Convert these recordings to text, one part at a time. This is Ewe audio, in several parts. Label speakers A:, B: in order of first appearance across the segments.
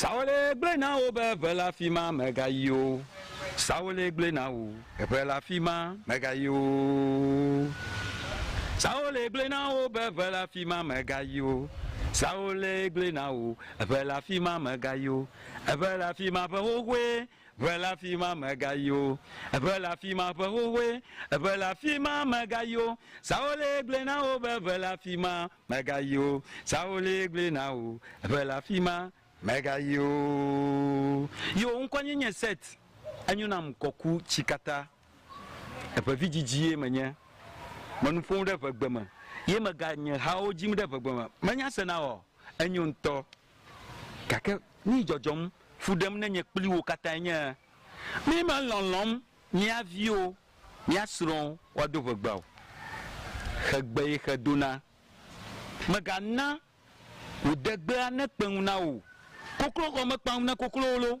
A: Sawole gblɔe na wo be, Ʋe le afi ma, mègayi o. Sawole gblɔe na wo, Ʋe le afi ma, mègayi o. Sawole gblɔe na wo be, Ʋe le afi ma, mègayi o. Sawole gblɔe na wo, Ʋe le afi ma, mègayi o. Ʋe le afi ma ʋe xoxoe. Ʋe le afi ma megayi o, ʋe le afi ma ƒe xoxoe, ʋe le afi ma megayi o, Saulé gblɔe na wo be ʋe le afi ma megayi o, Saulé gblɔe na wo, ʋe le afi ma megayi o. Yo ŋkɔ nye nye Set, enyo nam ŋkɔ ku tsi katã, eʋe vidzidzi ye menye, me nu ƒom ɖe ʋegbe me ye mega nye hawo dzim ɖe ʋegbe me, menya sena oa? Enyo ŋutɔ. Gake nii dzɔdzɔm, fu ɖem ne nye kpli wo katãe nye mímelɔlɔ̃m mía viwo, mía srɔ̃wo woado ʋegbe o. Xegbee xe dona. Mègana wò degbea nekpe ŋu na wò o, kokloxɔ mekpa ŋu na koklowo loo.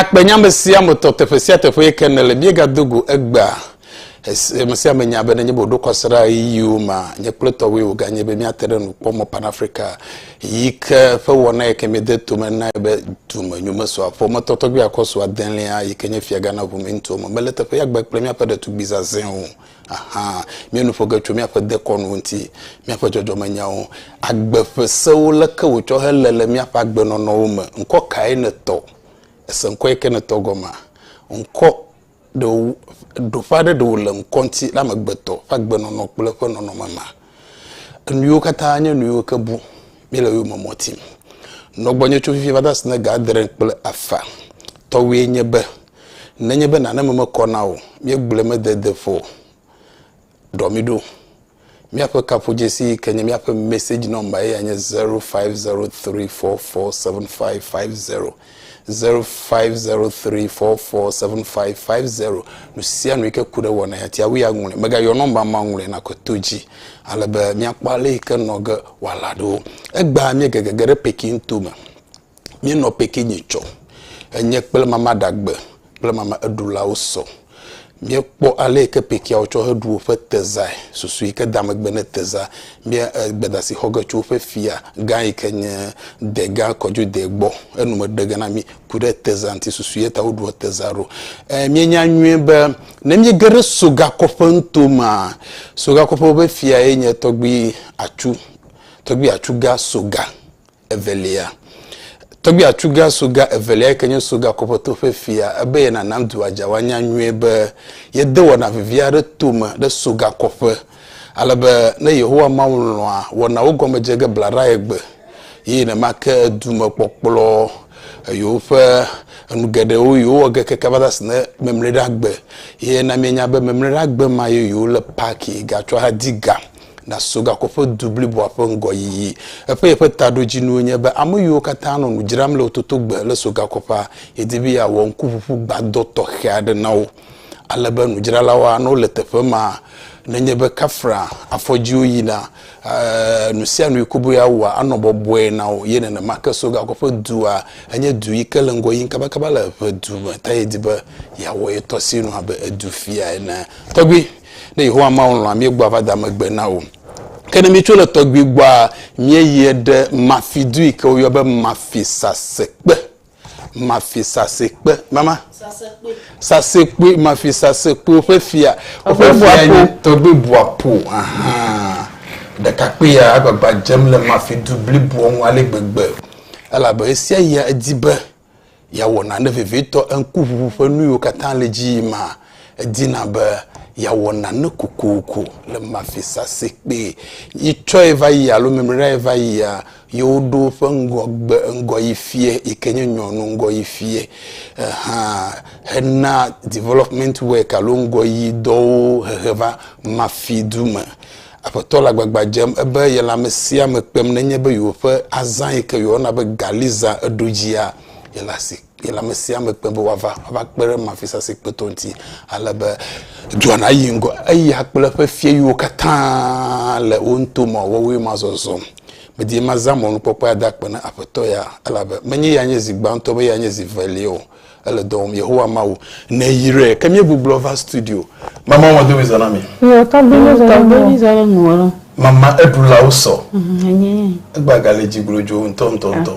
B: Akpenyame sia me tɔ teƒe sia teƒe yi ke nele míegado go egbea Amesiame nya be nenye be wòɖo kɔsiɖa ɣeyiɣiwo mea, nye kple tɔwoe wòganye be míate ɖe nukpɔmɔ Pan Afrika yi ke ƒe wɔna yi ke míede tome nae be dumenyomesɔa ƒometɔ tɔgbi akɔsu adelia yi ke nye Fiagãna ʋumeŋutuwo me mele teƒe ya gbe kple míaƒe ɖetugbui zazɛ̃ o. Aha, míenu ƒo ge tso míaƒe dekɔnu ŋuti, míaƒe dzɔdzɔmenyawo, agbe ƒe sewo leke wòtsɔ hele le míaƒe agbenɔnɔwo me. Ŋkɔ kae nètɔ? Èse ŋkɔ yi ke nètɔ gɔmea? Ŋkɔ Ɖe wò, ɖoƒe aɖe ɖe wòle ŋkɔ ŋuti le amegbetɔ ƒe agbenɔnɔ kple eƒe nɔnɔme mea? Enuyiwo katã nye nuyiwo ke bu míele wo yome mɔ tim. Nɔ gbɔnye tso fifi va de asi ne ga adre kple afã tɔwoe nye be, nenye be nane me mekɔ na wò o, míegblɔe mede deƒo o. ɖɔ mi ɖo. Míaƒe kaƒodzesi yi ke nye míaƒe message number ye ya nye 0503447550. 0503447550. Nu sia nu yi ke ku ɖe wɔ na ya tia wui aŋlɔe. Megayɔ number ma ŋlɔe na kɔ to dzi. Ale be míakpɔ ale yi ke nɔ ge wòala ɖo. Egbea míegege ge ɖe Peking to me. míenɔ pikinye tsɔ enye kple mama ɖagbe kple mama eɖulawo sɔ. Míekpɔ ale yi ke pikiawo tsɔ heɖu woƒe tezae, susu yi ke da megbe ne teza. Mía eh, gbedasi xɔ ge tso woƒe fia gã yi ke nye degã kɔdzode gbɔ. Enume ɖe ge na mí ku ɖe teza ŋuti susu ye ta woɖua teza ɖo. Eh, míenya nyuie be ne míege ɖe sogakɔƒe nuto mea, sogakɔƒe woƒe fia ye nye tɔgbui atsu, tɔgbui atsu gã soga. evelia. Tɔgbui atuga soga evelia yi ke nye soga kɔƒetɔ ƒe fia ebe ye nanam dua dza woanya nyuie be yede wɔna vevi aɖe tome ɖe soga kɔƒe. Ale be ne Yehowa Mawu lɔ̃a wɔnawo gɔme dze ge blaɖae gbe ye nenema ke dume kpɔkplɔ yewoƒe enu geɖewo yewowɔ ge keke va se ne memlɛɖagbe ye na mienya be memlɛɖagbe ma ye yewole paki gatsɔ hadi ga naso gakoƒe du bliboa ƒe ŋgɔyiyi. Eƒe yeƒe taɖodzinuwo nye be ame yiwo katã nɔ nu dzram le wototogbe le so gakoƒea, yedi be yeawɔ ŋkuʋuʋu gbadɔ tɔxɛ aɖe na wo ale be nudzralawo anɔ le teƒe ma nenye be kafra afɔdziwo yina nusianu yi koboe awɔa anɔ bɔbɔe na wo. Ye nenema ke so gakoƒe dua enye du yi ke le ŋgɔ yim kabakaba le ʋedu me ta yedi be yeawɔ ye tɔ sinu abe edu fia ene. Tɔgbui. Ne Yehowa Mawu lɔ̃a, míegbɔa va da megbe na wò. Ke ne míetso le tɔgbui gbɔa, míeyie ɖe Mafi du yi ke woyɔ be Mafi sasekpe. Mafi sasekpe. Mama? Sasekpe. Sasekpe, Mafi sasekpe, woƒe fia. Woƒe fia nye tɔgbui buapo. Ahaa. Ɖekakpui ya agbagba dzem le Mafi du bliboa ŋu ale gbegbe. Elabe ɣesiaɣia edi be yeawɔ nane vevitɔ, eŋkuʋuʋu ƒe nu yiwo katã le edzi yim maa, edina be yeawɔ nane kokoko le mafi sase kpee. Yi tsɔe va yi alo memlɛɖae va yia, yewoɖo eƒe ŋgɔgbe ŋgɔyifiɛ yike nye nyɔnu ŋgɔyifiɛ hã hena development work alo ŋgɔyidɔwo hehe va Mafi du me. Aƒetɔ le agbagba dzem ebe yele amesiame kpem nenye be yewoƒe azã yike yewɔna be gali zã eɖo dzia, yele asi, yele amesiame kpem be wòava, wòava kpe ɖe mafisase kpetɔ ŋuti. Alebe dua nayi ŋgɔ, eya kple eƒe fia yiwo katã le wo ŋuto mɔ wɔwoe ma zɔzɔm. Medi be mazã mɔnukpɔkpɔ ya ada akpe na Aƒetɔ ya, elabe menye ya nye zi gbãtɔ be ya nye zi velia o. Ele dɔ wɔm, Yehowa Mawu neyrae. Ke míegbublɔ va studio. Mama wɔn do mizɔ na mi. Yɔ tɔgbe mizɔ
C: na mi. Mizɔ na mi wɔlɔ. Mama eɖulawo
B: sɔ. Egba gale dzi glodzo ŋutɔ ŋutɔ ŋutɔ.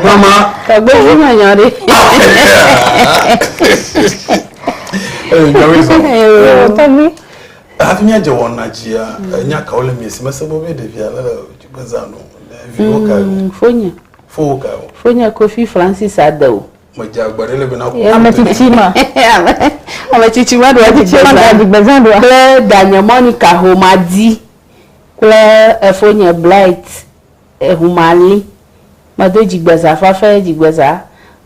B: Mama. Tɔgbe yi ma nya
C: ɖe.
B: Ee, nya mi sɔ. Yɔ tɔgbe. Hafi mi adze wɔna dzia, nya kawo le mi si mese bobe ɖevia le dzi gbezanu. Viwo kae. Fonye. Fowó kae o.
C: Fonye Kofi Francis Addo. Medze agbe ɖe le
B: be na ku. Ame tsitsi
C: ma. Ame tsitsi ma ɖo adzi gbezã ɖoa. Kple danye Monica Homadi kple efonye Blight Ehumali. Medo dzigbezã fafe dzigbezã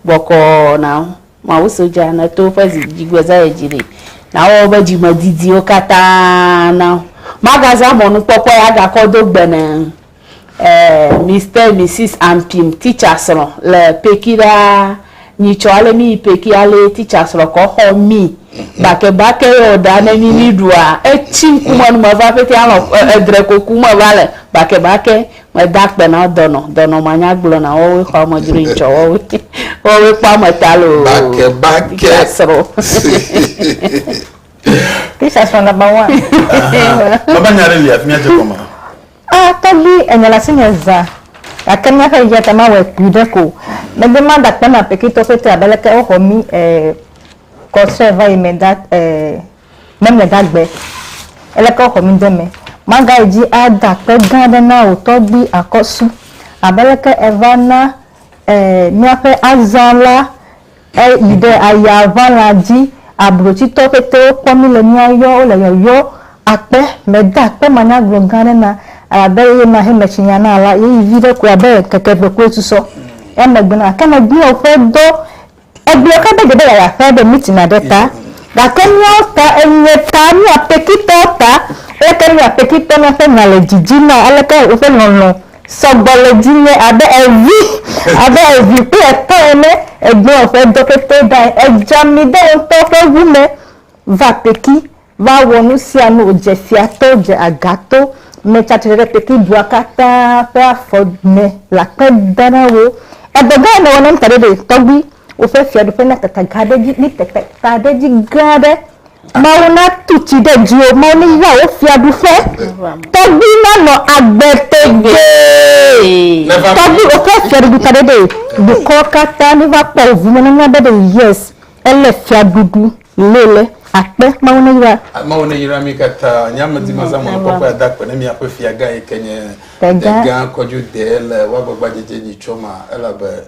C: bɔkɔ na wo. Mawu sodza ne to woƒe zi dzigbezã ye dzi ɖi na wɔ wobe dzimedidiwo katã na wo. Magazã mɔnukpɔkpɔ ya gakɔ do gbe ne. Eh Mister Misis Ampim teacher srɔ le peki ɖaa nyi tsɔ ale mi yi peki ale teacher srɔ kɔ xɔ mi bake bake yɔ ɖa ne mi mi ɖua etsi ŋkumɔ nu me va pete alɔ edre koku me va le bake bake me da kpe na dɔnɔ dɔnɔ ma nya gblɔ na wɔ we xɔ ame dzro yi tsɔ wɔ we wɔ we kpɔ ame ta lo bake bake teacher srɔ
D: teacher srɔ na ba wa baba nya re li
B: afimia je kɔma A Tɔgbi,
D: ènya le asinye zã, gake míaƒe yiyia ta mawɔe kpui ɖe ko o. Megbe madakpe na Pekitɔwo pɛtɛ abe aleke woxɔ mí ee kɔ tsrɛ va yi me da ee memle dagbe aleke woxɔ mí de eme. Magayi dzi ada akpe gã aɖe na wò tɔgbi akɔsu abe aleke èva na ee míaƒe azã la. E yi ɖe aya ʋala dzi, ablotsitɔ pɛtɛwo kpɔ mí le mía yɔ, wole yɔyɔ akpe, me de akpe manyagblɔ gã aɖe na, elabe eye ma he metsi nya na la, ye yi viɖe koe abe keke eve koe susɔ emegbe na. Ke me gblɔ ƒe dɔ, e gblɔ ƒe be gebe yaya ƒe be meeting aɖe ta, gake míawo ta enye ta, mí apekitɔwo ta, aleke mí apekitɔ na ƒe nya le dzi dzi na, aleke woƒe lɔlɔ. sɔgbɔ le dzinye abe evi, abe evi kple etɔ ene, egbea ƒe dɔ pɛpɛ ɖae, edzea mi ɖe ŋutɔ ƒe ʋu me va Peki va wɔ nu sia nu wòdze fia to, dze aga to, metsa tsitre ɖe Peki dua katã ƒe afɔ me le akpe dam na wò. Edɔ gã nèwɔ nam taɖoɖoe tɔgbi, woƒe fiaɖuƒe nakaka gã ɖe edzi, li teta ɖe edzi gã aɖe. Mawu natu tsi ɖe dziwò, Mawu neyra wò fiaɖuƒe, tɔgbui nanɔ agbe tegbee, tɔgbui woƒe fiaɖuɖu taɖoɖoe, dukɔwo katã neva kpɔ wò ŋume nanya be ɖe yes ele fiaɖuɖu le le akpe, Mawu neyra. Mawu
B: neyra mi katã, nye amedimazã mɔnukpɔkpɔe ada akpe ne miaƒe fiagã yike nye Degã kɔdzude le woagbagba dzedze nyi tsɔ ma elabe.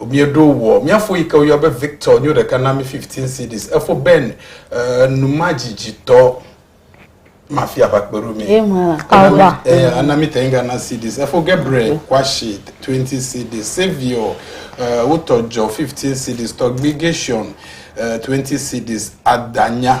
B: Mieɖo wɔ. Mia fo yike woyɔ be Victor nyo ɖeka na mi 15 cedis. Efo Ben nu ma dzidzi tɔ ma fi ava kpeɖo mi. Ana mi te nga na cedis. Efo Gabriel kwashi 20 cedis. Savior wotɔ jɔ 15 cedis. Tɔgbi Gation 20 cedis. Adanya.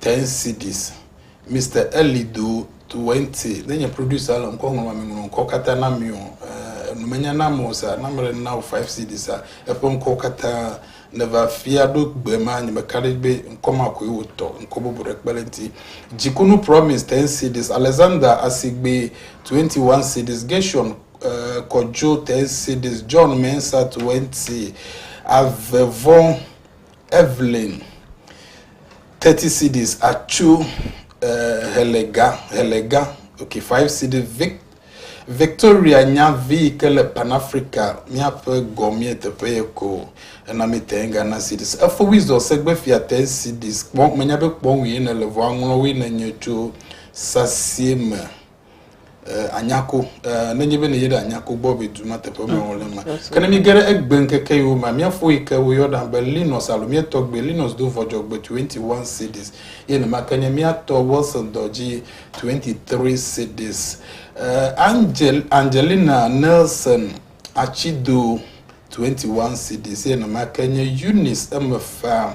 B: 10 cedis. Mister Ellie do 20 ne nye producer le ŋkɔ ŋlɔm ame ŋlɔ ŋkɔ katã na mi o enu menya na mo sa na mele na o 5 cedis a eƒe ŋkɔ katã ne va fia ɖo gbe ma nye me ka ɖe gbe ŋkɔ ma koe wo tɔ ŋkɔ bubu ɖe kpe le ŋti jikunu promise 10 cedis Alexander asigbe 21 cedis Gershon uh, kɔjo 10 cedis John mensa 20 ave vɔn Evelyn, thirty cedis atsu eh, helega, helega, okay, five cedi Vic, Victoria nya vi yi ke le Pan Africa míaƒe gɔmee teƒe ye ko ena mi ten Ghana cedis. Efo wizɔ segbe fia ten cedis kpɔ menya be kpɔ ŋue ne le vɔ aŋlɔ woe ne nye tso sasie me. anyako nenye be nèyi ɖe anyako gbɔ be du ma teƒe me wole ma ke ne míge ɖe egbe ŋkeke yiwo ma míafo yi ke woyɔna be linos alo míetɔ gbe linos do vɔdzɔgbe 21 cities ye nema ke nye míatɔ wilson dɔdzi 23 cities angel angelina nelson atsido 21 cities ye nema ke nye eunice emefa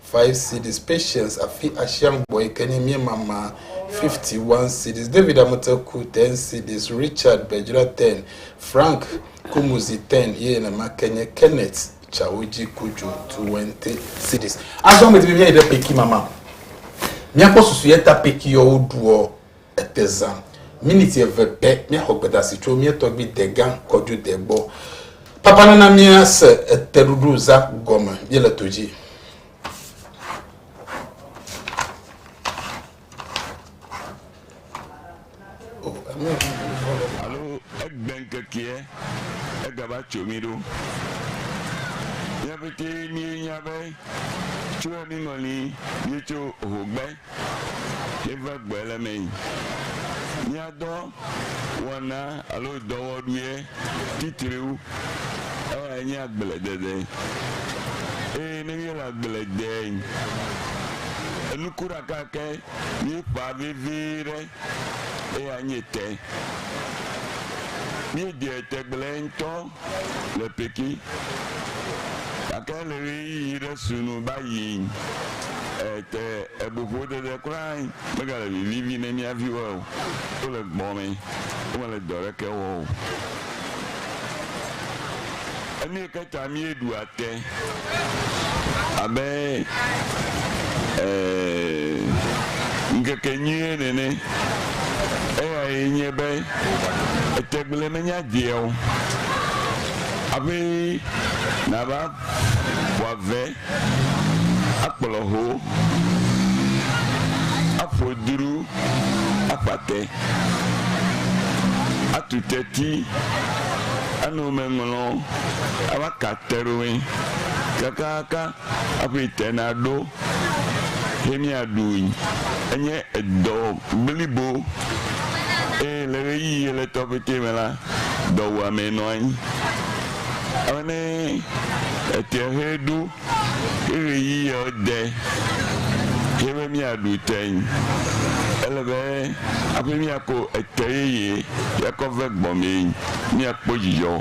B: Five cedis. Patience afi Ashiang gbɔ yi ke nye mía mama, fifty one cedis. David Amute ku, ten cedis. Richard Bedzra, ten. Frank Kumuzi, ten. Ye nenema ke nye Kenneth Chawoji Kujo, twenty cedis. Azɔ ame didi mía yi ɖe Peki mama. Mía kpɔ susu ye ta Peki yɔwo ɖuɔ Ete zã miniti eve pɛ míaxɔ gbedasi tso mía tɔgbui degã Kɔdjode gbɔ. Papa nana míase eteɖuɖu za gɔme míele to dzi.
E: tso mi ɖo míaƒete míenya be tso emiŋɔli míetso hogbe Míeva gbɔe le eme yi. Mía dɔ wɔna alo dɔwɔɖuiɛ titriwo eyae nye agbledede. Eye ne míele agble dee yi, enuku ɖeka ke míeƒã vevie ɖe eyae nye te. Míedeɛ tegblẽe ŋutɔ. le Pekin, gake le ɣeyiɣi ɖe su nu va yi te ebuƒodede kura megale vivivi ne mía viwoe o. Wole gbɔ̃ me, womele dɔ ɖeke wɔm o. Enu yi ke ta míeɖua Ke abe e ŋkekenyuie nene, eyae nye be etegble menya dea o abe nava ƒoa ve, akplɔ ho, aƒo dru. akpa te, atu te ti, ano me ŋlɔ, ava ka te ɖo me kakaka aƒe te na ɖo he mia ɖui. Enye edɔ blibo eye le ɣeyiɣi ɣletɔ pɛtɛ me la, dɔwuame nɔ anyi. Alebe etea he ɖo. Ke ɣeyiɣiawo de hɛn be míaɖu teŋ. Ele be hafi míako ete yeye yɛakɔ ve gbɔmee míakpɔ dzidzɔ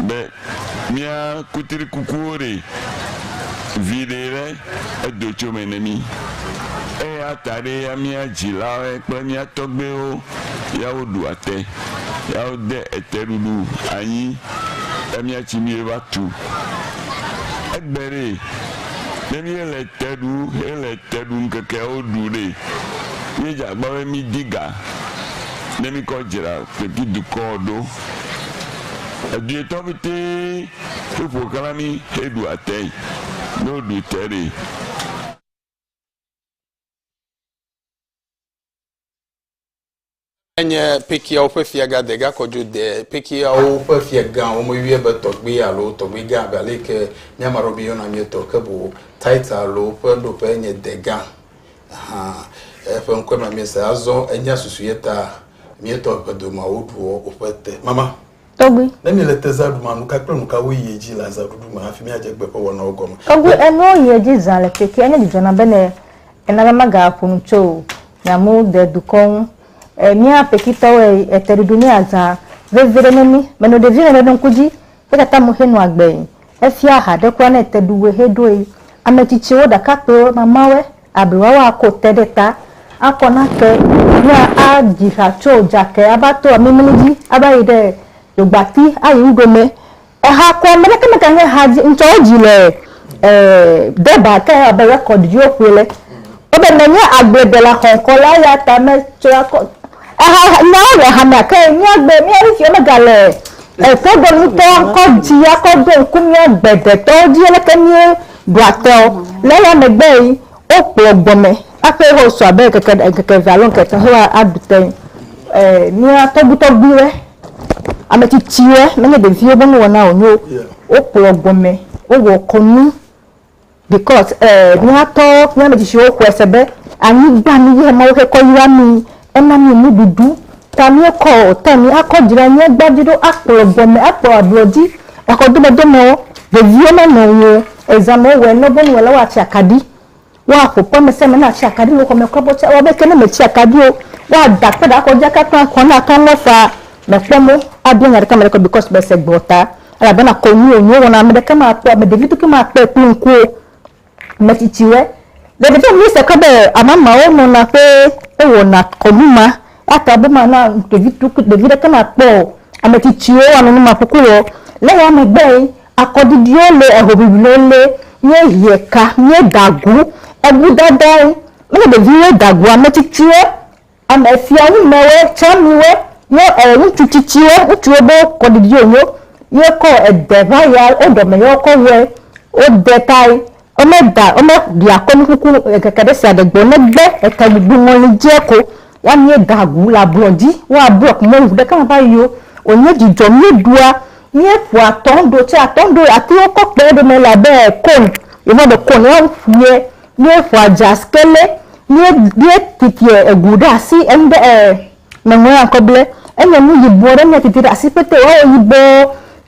E: be mía kutrikukuwo ɖe viɖe ɖe edo tso eme na mí. Eya ta ɖee ya mía dzilawoe kple mía tɔgbewo ya woɖua te ya wode eteɖuɖu anyi be míatsi nu ye va tu. Egbe ɖee, ne míele te ɖu hele te ɖu ŋkekeawo ɖu ɖe, míedze agbagba be mídi ga ne míkɔ dzra Turkey dukɔ ɖo. Edu etɔ̃ pɛtɛ he ƒo xlã mí heɖua tee ne woɖu te ɖee.
B: Enye Pekiawo ƒe fiaga degakɔ dzo de Pekiawo ƒe fiagã, womeyɔe be tɔgbui alo tɔgbuigã abe aleke mía Maɖo míeyɔna mía tɔ ke boŋ Titus alo ƒe nuɖoƒe nye degã. Hã, eƒe ŋkɔe ma míese azɔ, enya susu ye ta mía tɔ ʋedomawo ɖuɔ woƒe te. Mama. Tɔgbi. Ne míele
D: tezã ɖum
B: la, nuka kple nuka woyi edzi le azãɖuɖu me hafi míadze gbe ƒe wɔnawo gɔme? Tɔgbi, enuwo yi edzi
D: zã le kpekpe. Enye dzidzɔ nam be ne ena be magaƒo nu tso nya mu de dukɔ ŋu. Mía kpekpetɔwoe, eteɖuɖu nye azã vevi ɖe ne mí. Menɔ ɖevi me ɖe ŋku dzi eya ta mexe nua gbee. Efia ha ɖe kura ne ete ɖu woe heɖoe. Ametsitsiwo, ɖakakpuiwo, mamawe, Ablɔa wa ko te ɖe ta, akɔ nake, ya a dzi ha tso dzake a va to amimli dzi a va yi ɖe dzogbati a yi nuɖome. Eha kɔ, me ɖeke me ka he ha dzi, ŋtsɔ wo dzi le e deba ke abe record dzi wo ƒoe le. Wo be me nye agble dela xɔnkɔ la ya ta me tsɔ akɔ. Eha nya wo le hamea ke mía gbe mía ŋuti me ga le e toɖo ŋtɔ kɔ dzi a kɔ ɖo ŋku mía gbe ɖe tɔwo dzi leke mía Ɖoateɔ, le eya megbe yi wo kplɔ gbɔmɛ aƒe ho sɔ abe ŋkeke ɖe ŋkeke ve alo ŋkeke ho a a ɖu tɛnŋ. E mía tɔgbi tɔgbi wɛ, ame tsitsi wɛ, me nye ɖeviwo be nu wɔna o nyo wo kplɔ gbɔmɛ, wo wɔ kɔnu bikɔs e mía tɔ mía ame tsitsi wo xɔɛ se be anyigba nu yɛ Mawu xe kɔ yra mi Ena mi nuɖuɖu, ta miekɔ o, ta mi akɔ dzra mia gba dzi ɖo akplɔ gbɔme akplɔ ablɔ dzi, exɔ domedomewo, veviwo na nɔ ŋuwo, eza me wowɔe nɔ bonu ela woatsi akaɖi, woaƒo ƒe ame sia ame natsi akaɖi le xɔ me kura be woatsi, woabe ke ne me tsi akaɖi o, woada kpe ɖe akɔ dzi aka kple akɔ ne akɔ ŋlɔ faa, me kpɔ mo abia nya ɖeke ame ɖeke o because me se gbe o ta, elabena kɔnu wonyo wowɔ na, ame ɖeke ma kpɔ, ame ɖevi ɖeke ma kpɔe kple ŋku o. metsitsiwɔe. Ɖeviɖe mi se kɔ be amamawo nɔna ƒe ewɔna kɔnu ma ata be mana ɖevi tu ɖevi ɖe ke ma kpɔ o. Ametsitsiwo wa nɔnɔme kuku wɔ. Le ya megbe ye akɔɖiɖiwo le ehoʋiʋli wo le ye hie ka ye da gu. Eŋu dada ye. Mele ɖeviwo da gu ametsitsiwo. Ame siawo me woe tsã miwo nye ɔ ŋutsu tsitsiwo, ŋutsuwo be wokɔ ɖiɖi wo nyo ye kɔ ede va ya wo ɖɔme yɔ kɔ wɔe. Wo de tae wo me da wo me ɖi akɔnu kuku ŋkeke ɖe sia ɖe gbɔ negbe eke gbugbu ŋɔli dzie ko ya mie da gu le ablɔ dzi. Wo ablɔ ko mɔlu ɖe ka va yio wo nye dzidzɔ mie ɖua mie ƒo atɔn ɖo tse atɔn ɖo atiwo kɔ kpe ɖome la be kɔn ye va be kɔn ya wo ƒu ye Míeƒoa jazz kele, míe, míetitia egu ɖe asi, enu ɖe, ɛɛ, meŋlɔa ŋkɔ ble. Enye nu yibɔ ɖe míetiti ɖe asi kpete wòawɔ yibɔ.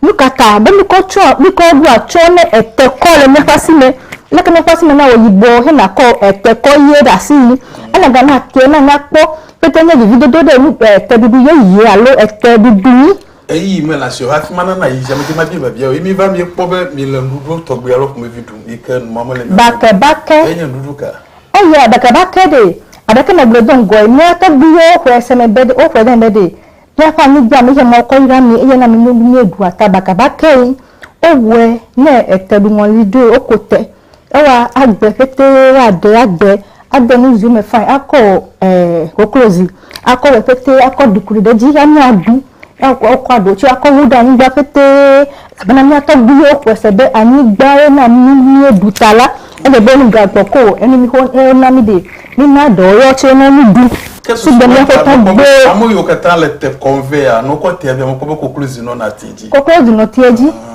D: Nukata be míkɔ tsɔa, míkɔ ɖoa atsyɔ̃ ne etekɔ le míaƒe asi me? Leke míaƒe asi me nawɔ yibɔ hena kɔ etekɔ ʋie ɖe asi yi? Ena gana tea nanya kpɔ. Kpete nye vividodo ɖe nu, ɛɛ, teɖuɖu yeye alo ete ɖuɖu ŋu. Ɣeyiɣi me la
B: siwo hafi mana nayi zã me dze mabia biabiawo ye míeva míekpɔ be míele nuɖuɖu tɔgbi alo ƒomevi ɖum yi ke nu mamele mía me ɖum o. Eyae nye
D: nuɖuɖu ka?
B: Eya ɖekɛɖekɛ
D: ɖe! Aɖeke megblɔe do ŋgɔe, mía tɔgbuiwo xɔe se me be ɖe, woxɔe ɖe eme be ɖe míaƒe anyigba me ye Mawu kɔ yra mí eye na mí nuɖuɖu míeɖua ta bakabakee. Wowɔe ne eteɖuŋɔli ɖoe, woku te. ewa agbe pɛtɛ woaɖe agbe ade nu zi me fine akɔ e koklozi akɔ wɔ pɛtɛ akɔ ɖukli ɖe edzi anye aɖu akɔ aɖu tsɛ akɔ wu ɖe anyigba pɛtɛ elabena mía tɔgbuiwo xɔe se be anyigba ye na mí nu míeɖu ta la ele be nu gagbɔ ko o enu mi xɔ ena mí ɖee mina eɖewo yewo tsɛ ne nu ɖu Ke susu sugbe míaƒe mekpɔ be
B: tɔgbuiwo ame yiwo katã le te kɔm vɛ ya, ne wokɔ tea via, mekpɔ be koklozi nɔna tea dzi. koklozi nɔ tea dzi.
D: Ah.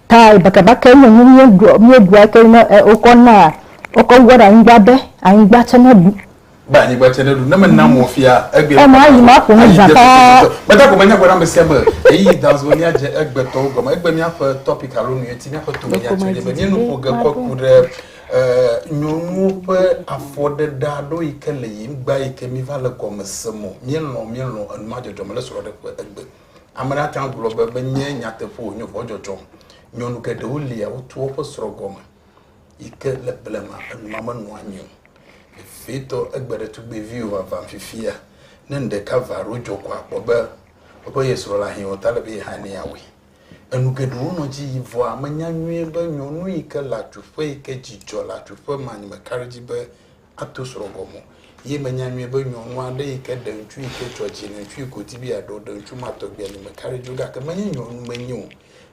D: Tae bakɛbakɛ nye nu míeɖua eke ne wokɔ na wokɔ wua ɖe anyigba be anyigba tse ne ɖu. Be anyigba tse
B: ne ɖu ne me na mɔ fia egbe. Ema ayi ma ƒo nu zã
D: paa. Meda gome nya gɔme amesi
B: ame ɣeyiɣi da ŋsu be mía dze egbe tɔwo gɔme egbe mía ƒe topic alo nu eti mía ƒe tome nya tse nye be mía nu ƒo ge kɔ ku ɖe nyɔnuwo ƒe afɔ ɖe ɖa ɖo yike le yim gba yike mí va le gɔme se mɔ mía lɔ mía lɔ enua dzɔdzɔ me le srɔ ɖe ƒe egbe. Ame aɖe ate ŋu agblɔ be menye nyateƒe o, wònye vɔ̃dzɔdzɔ. Nyɔnu geɖewo lia wotu woƒe srɔ̃ gɔme yi ke le blema enua menɔ anyi o. Vevietɔ, egbe ɖe tugbeviwo vava fifia. Ne nu ɖeka va alo dzɔ ko akpɔ be woƒe ye srɔ̃ le ahiã o ta ele be yehã ne yeawɔe. Enu geɖewo nɔ edzi yim vɔa menya nyuie be nyɔnu yi ke le atsuƒe yi ke dzi dzɔ le atsuƒe me anyi mekaɖedzi be ato srɔ̃ gɔme o ye menya nyuie be nyɔnu aɖe yi ke ɖe ŋutsu yi ke tsɔ dzi le ŋutsu yi ke wòdi be yeaɖe ɖe ŋutsu ma tɔgbi ali me carriage o gake menye nyɔnu menye o.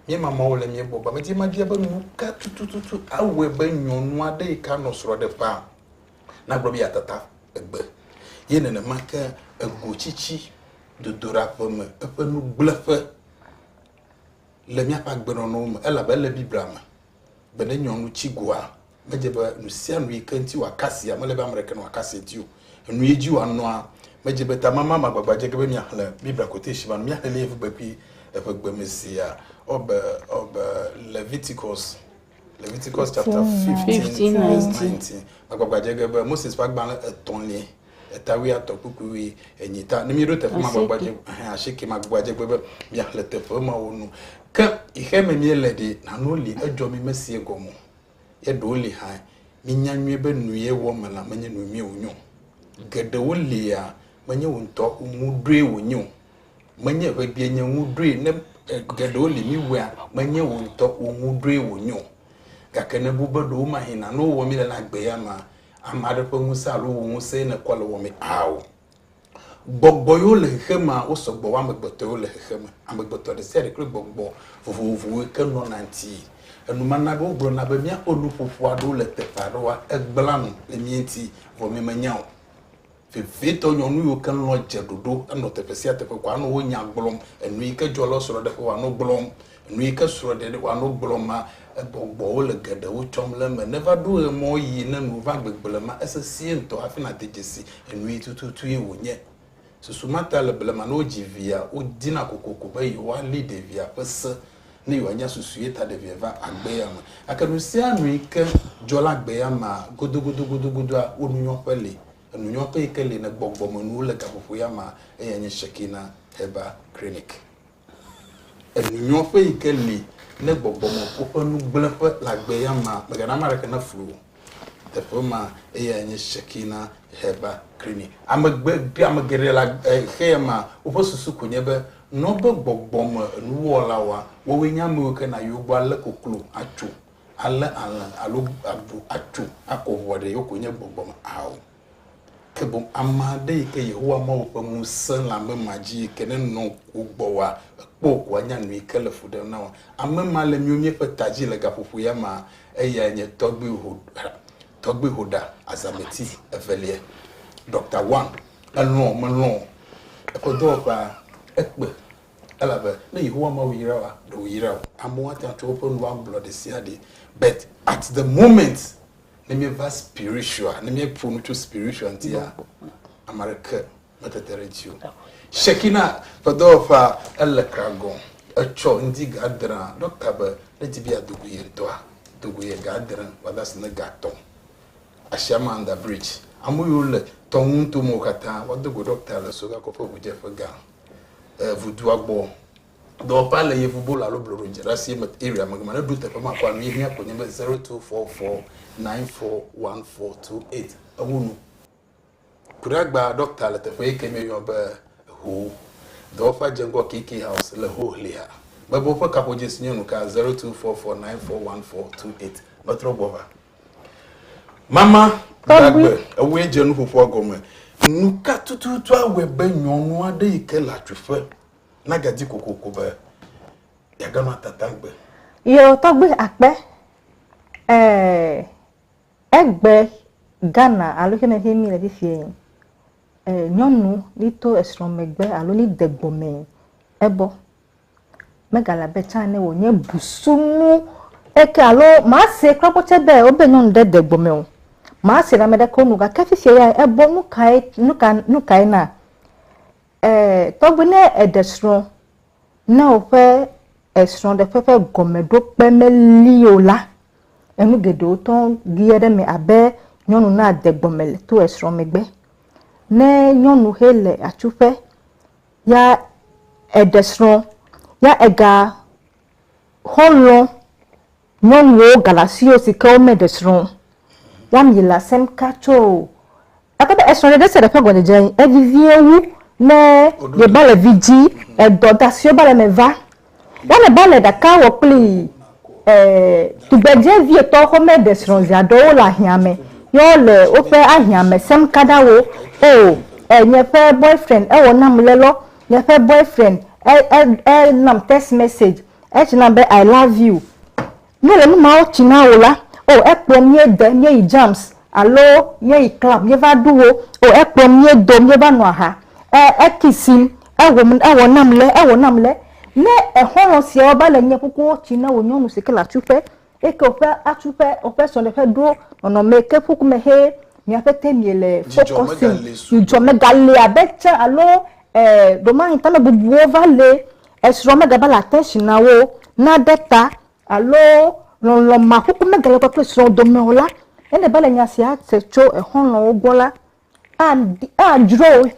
B: Míema Mawu le mía gbɔ. Ba medi be mabia be nu ka tututu awɔe be nyɔnu aɖe yi ke anɔ srɔ̃ ɖem ƒã nagblɔ be yeatata egbe ye nenema ke ego tsitsi dodoɖaƒe me eƒe nugblẽƒe le míaƒe agbenɔnɔwo me elabe ele Biblia me be ne nyɔnu tsi goa, medze be nu sia nu yi ke ŋuti wòakasia, mele be ame ɖeke wòakasia ŋuti o, enu yi dzi wòanɔa, medze be tamama ma gbagba dze ge be miaxlẽ Biblia quotation ma, miaxlẽ le Yevu kpekpe eƒe gbe me zia. Ɔ be, ɔ be, Leviticus, Leviticus chapter 15, verse 19. Magbagba dze ge be Moses ƒe agbalẽ etɔ̃lie, eta wuiatɔ̃ kpukpui wui enyi ta. Ne míɖo teƒe ma gbagba dze, asike magbagba dze ge be miaxlẽ teƒe mawo nu. Ke yi xe me míele ɖe, nanewo li, edzɔ mi mesie gɔme o. Ye ɖewo li hã, míenya nyuie be nu ye wɔ me la menye nu nyui wònye o. Geɖewo lia, menye wo ŋutɔ ŋu ɖoe wònye o. Menye ŋegbee nye ŋu ɖoe ne geɖewo li míwɔa, menye wo ŋutɔ wo ŋu ɖoe wònye o. Gake ne èbu be ɖewomahĩ nane wowɔ mí le la, gbea mea, ame aɖe ƒe ŋusẽ alo wò ŋusẽe nèkɔ le wɔmee? Ao. Gbɔgbɔ yiwo le xexemea, wosɔ gbɔ wu amegbetɔ yiwo le xexeme. Amegbetɔ ɖe sia ɖe kple gbɔgbɔ vovovowoe ke nɔna ŋuti. Enuma na be wogblɔna be míaƒe nuƒoƒo aɖewo le teƒe aɖewoa, egblẽa nu le mía ŋuti vɔ míemenya o. Vevitɔ, nyɔnu yiwo ke lɔ̃a dze ɖoɖo henɔ teƒe sia teƒe ko anɔ wonya gblɔm, enu yi ke dzɔ le wo srɔ̃ɖeƒe o anɔ gblɔm. Nu yi ke srɔ̃ɖeɖe wɔnɔ gblɔ ma, egbɔgbɔ wole geɖewo tsɔm le eme. Neva ɖo ɣe mɔ ɣi ne nu va gbegble ma, esesẽe ŋutɔ hafi nàde dzesi enui tututue wònye. Susu ma ta le blema ne wodzi via, wodina kokoko be yewoali ɖevia ƒe se ne yewoanya susue ta ɖevia va agbea me. Gake nusianu yi ke dzɔ le agbea mea, godogodogodogodoa, wonunyɔƒe li. Enunyɔƒe yi ke li ne gbɔgbɔmenuwo le gaƒoƒoea mea, eyae nye Shekinah Herbal Clinic. Enunyɔƒe yi ke li ne gbɔgbɔ me ku ƒe nugblẽƒe le agbe ya mea, megana ame aɖeke naflu o. Teƒe ma eyae nye Shekinah Herbal Clinic. Ame gbe, ame geɖe le xe ya mea, woƒe susu ko nye be nɔ be gbɔgbɔ me nuwɔlawoa, woawoe nye ame yiwo ke nayi wo gbɔ alé koklo atso, alé alẽ alo avu atso akɔ ŋua ɖe, yewo ko nye gbɔgbɔ me ao. Ke boŋ ame aɖe yi ke Yehowa Mawu ƒe ŋusẽ le ame ma dzi yi ke nenɔ ŋku gbɔ oa, ekpɔ ko anya nu yi ke le fu ɖem na wò. Ame ma le míwo míeƒe ta dzi le gaƒoƒo ya mea, eyae nye Tɔgbui Hoda, Tɔgbui Hoda, Azameti Evelia. Ɖɔkta Wang, elɔ̃ o melɔ̃ o, eƒe dɔwɔƒea, ekpe, elabe ne Yehowa Mawu yra wòa, ɖe wòyra o. Amewo ate ŋu atsɔ woƒe nuwo agblɔ ɖesiaɖe, but at the moment, ne míeva spiritual ne míeƒo nu tso spiritual ŋutia ame aɖeke metete ɖe edzi o shekina ƒe dɔwɔƒea ele kragɔ etsɔ ŋdi gadra dɔkta be ne di be yeadogo ye ŋutɔa dogo ye gadra wòada asi ne gatɔ asiama under bridge ame yiwo le tɔnu ŋuto me wo katã wodogo dɔkta le soga kɔƒe ʋudzeƒe gã eh, ʋudua gbɔ Dɔwɔƒea le Yevubolo alo Bloɖoŋdzrasie me area me gema ne ɖo teƒe ma kɔa nu yi hia ko nye be 0244941428 ewu nu. Kuɖagba ɖɔkta le teƒe yi ke mieyɔ be Ho. Dɔwɔƒea dze ŋgɔ KK House le Ho Hlea. Mebe woƒe kaƒodzĩ si nye nuka 0244941428 metrɔ gbɔ va. Mama Gbagbe ewɔe dze nuƒoƒoa gɔme. Nuka tututu awɔe be nyɔnu aɖe yi ke le atsuƒe Nage di kokoko be yeage nɔ tata gbe. Yewo tɔgbe
D: akpe eh, egbe Ghana alo ke ne mi le fifie eh, nyɔnu ni to esrɔ̃ megbe alo ni de gbɔme ebɔ megale abe tsã ne wònye busunu eke alo maa se kura kpɔ tsɛ be wobe nyɔnu ɖe de gbɔme o maa se na ame ɖe ko nu gake fifie ya ebɔ nukae nuka nukae na Tɔgbe ne eɖe srɔ̃ ne woƒe esrɔ̃ɖeƒe ƒe gɔmeɖokpe meli o la, enu geɖewo tɔ lia ɖe eme abe nyɔnu nade gɔme le to esrɔ̃ megbe. Ne nyɔnu xe le atsuƒe ya eɖe srɔ̃ ya ega xɔlɔ nyɔnuwo galasiwo si ke womeɖe srɔ̃ ya mi le asem ka tso Gake be esrɔ̃ɖeɖe sia ɖe ƒe gɔdzedze yi evevie wu ne yeba le vidzĩ edɔ ga siwo va le eme va. Woane ba le ɖaka wɔ kpli e, tugbedze vietɔ xɔme ɖe srɔ̃ zi aɖewo le ahiã me ye wo le woƒe ahiã me sem kaɖa wo, O, e, nye ƒe boyfriend ewɔ nam le lɔ, nye ƒe boyfriend e, e, e nam text message, e tsna be I love you. Míele nu mawo tsi na wò la, oh, ekplɔm míede, míeyi jams, alo míeyi club, míeva ɖu wo, oh, ekplɔm míedo, míeva nɔ aha, e, ekisim, ewɔm, ewɔ nam le, ewɔ nam le. Ne exɔlɔ̃ siawo va le nye ƒuƒoƒo tsi na wò nyɔnu si ke le atsuƒe, eye ke woƒe atsuƒe, woƒe srɔ̃ɖeƒe ɖo nɔnɔme ke ƒu me hee, mia ƒete miele fɔkɔsim, dzudzɔ megale abe tsã alo, e, ɖewomaŋ tamebubuwo va le. Esrɔ̃ megagale ate si na wo naɖe ta alo lɔlɔ̃ makuku megale kɔ kple srɔ̃ dome o la, ele be le nya sia se tso exɔlɔ̃wo gbɔ la, adi, adzro wo,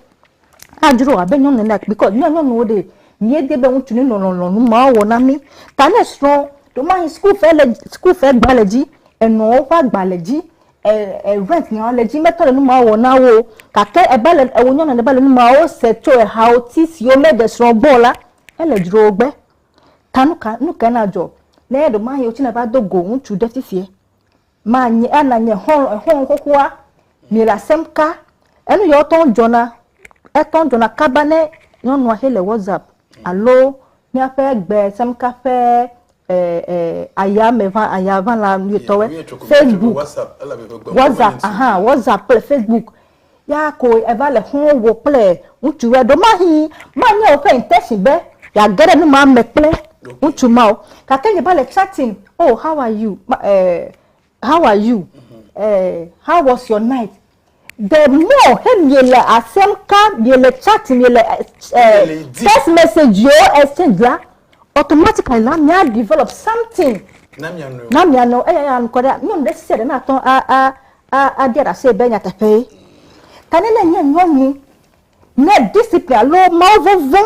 D: adzro wo abe nyɔnu ene kpi kɔ, ne nyɔnuwo ɖee, míedi be ŋutsu neno lɔlɔ̃nu mawo wɔ na mí. Ta ne srɔ̃ ɖewomahi sukufe le, sukufe gba le dzi, enɔwo ƒe agba le dzi, E, event nya le dzi mete le nu ma wɔ na wo, gake ebe le ewo nyɔna ne be le nu ma wo se tso ehawo ti siwo me de srɔ̃ gbɔ la, ele dzro wo gbe. Ta nu ka nu ka na dzɔ ne ɖo ma yewo tsi na va do go ŋutsu ɖe ti sie? Ma nye ana nye hɔn hɔn xoxoa mi le asem ka enu yewo tɔn dzɔna etɔn dzɔna kaba ne nyɔnua xe le WhatsApp alo Míaƒe gbe semka ƒe ayame ʋã aya ʋã la nuyotɔwe Facebook, WhatsApp aha WhatsApp kple Facebook ya ko eva le xɔ̃ wò kple ŋutsu ɖe ɖo mahi manye woƒe intention be yeage ɖe nu ma me kple ŋutsu ma o gake ye va le chatting oh how are you eh. how are you uh, how was your night the more he miele asem ka miele chat miele uh, text message yo exchange la automatically na mia develop something na mia no na mia no eya ya nkɔ ɖe nyɔnu ɖe sia ɖe na tɔ a a a a dia ɖase be nyateƒe ye ta ne ne nye nyɔnu ne discipline alo mawuvɔvɔ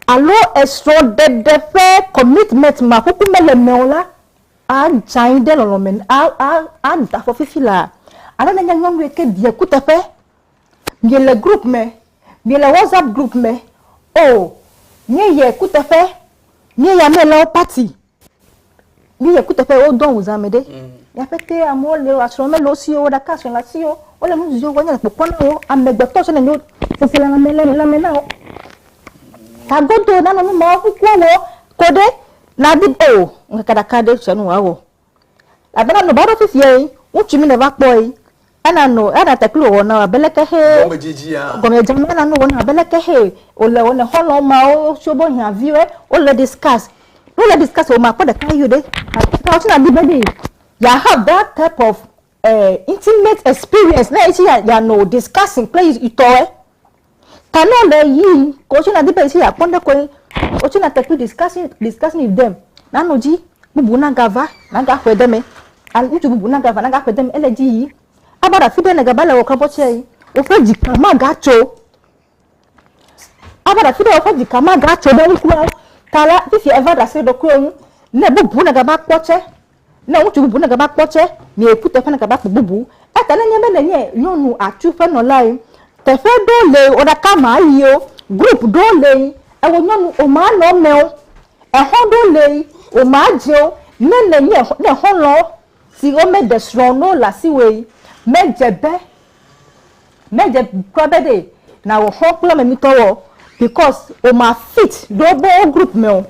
D: alo esrɔ̃ɖeɖe ƒe commitment ma kuku mele mɛ o la. A Ŋtsãyi ɖe lɔlɔ̃ me a a a ŋta fɔ fifi la ale ne nye nyɔnuɛ ke ɖie kuteƒe. Mie le group me, mie le WhatsApp group me oo mie yɛ kuteƒe, mie ya mie le wo party, mie yɛ kuteƒe wo do awu zã me ɖe. Ya ƒe te amewo le wa srɔ̃ me le wo si wo ɖaka srɔ̃ le asi wo wo le nu zi wo nye le kpɔkpɔ na wo ame gbetɔ tsɛ nenye wo sese le lãme le lãme na wo. Tagodo na nɔ nu ma wo kukua wɔ kɔɖe Na di be wò ŋkeke ɖeka ɖe sia nu wòawɔ. Elabena nɔ va ɖo fifiae, ŋutsu mi nèva kpɔe, ena nɔ ena te kpli wò wɔnawo abe leke ʋɛ gɔmedzedzea me na nu wò na abe leke ʋɛ wòle wò ne xɔlɔ̃ mawo tso wobe hiãviwoe wole discuss. Ne wole discuss wò makpɔ ɖeka ʋɛ ɖe alo tse na di be ɖe ya have that type of eh intimate experience ne ye tse ya ya nɔ discussing kple yi tɔwoe. Kano le yi ko tsina di be si ya kpɔn ɖe koe o tsina te pi discussion discussion with them na no dzi bubu na ga va na ga xɔe de me al ŋutsu bubu na ga va na ga xɔe de me ele dzi yi a ba ɖa fi ɖe ne ga ba le wɔ kabɔ tsɛ yi o ƒe dzi ka ma ga tso a ba ɖa fi ɖe o ƒe dzi ka ma ga tso ɖe ŋkua ta la fi si e va ɖa se ɖo koe ŋu ne bubu na ga ba kpɔ tsɛ Ne ŋutsu bubu negava kpɔ tsɛ, miae ku teƒe negava kpɔ bubu. Eya ta ne nye be nènye nyɔnu atu ƒe nɔlae, teƒe ɖewo le wò ɖaka ma yio, group ɖewo le ewò nyɔnu wò ma nɔ emeo, exɔ ɖewo le wò ma dzeo, ne nènye ne xɔlɔ̃ siwo meɖe srɔ̃ o ne wole asiwòe, medze be Me dze kura be ɖe na wɔ xɔ kple ame mi tɔ wɔ because o ma fit ɖe wo bo group me o.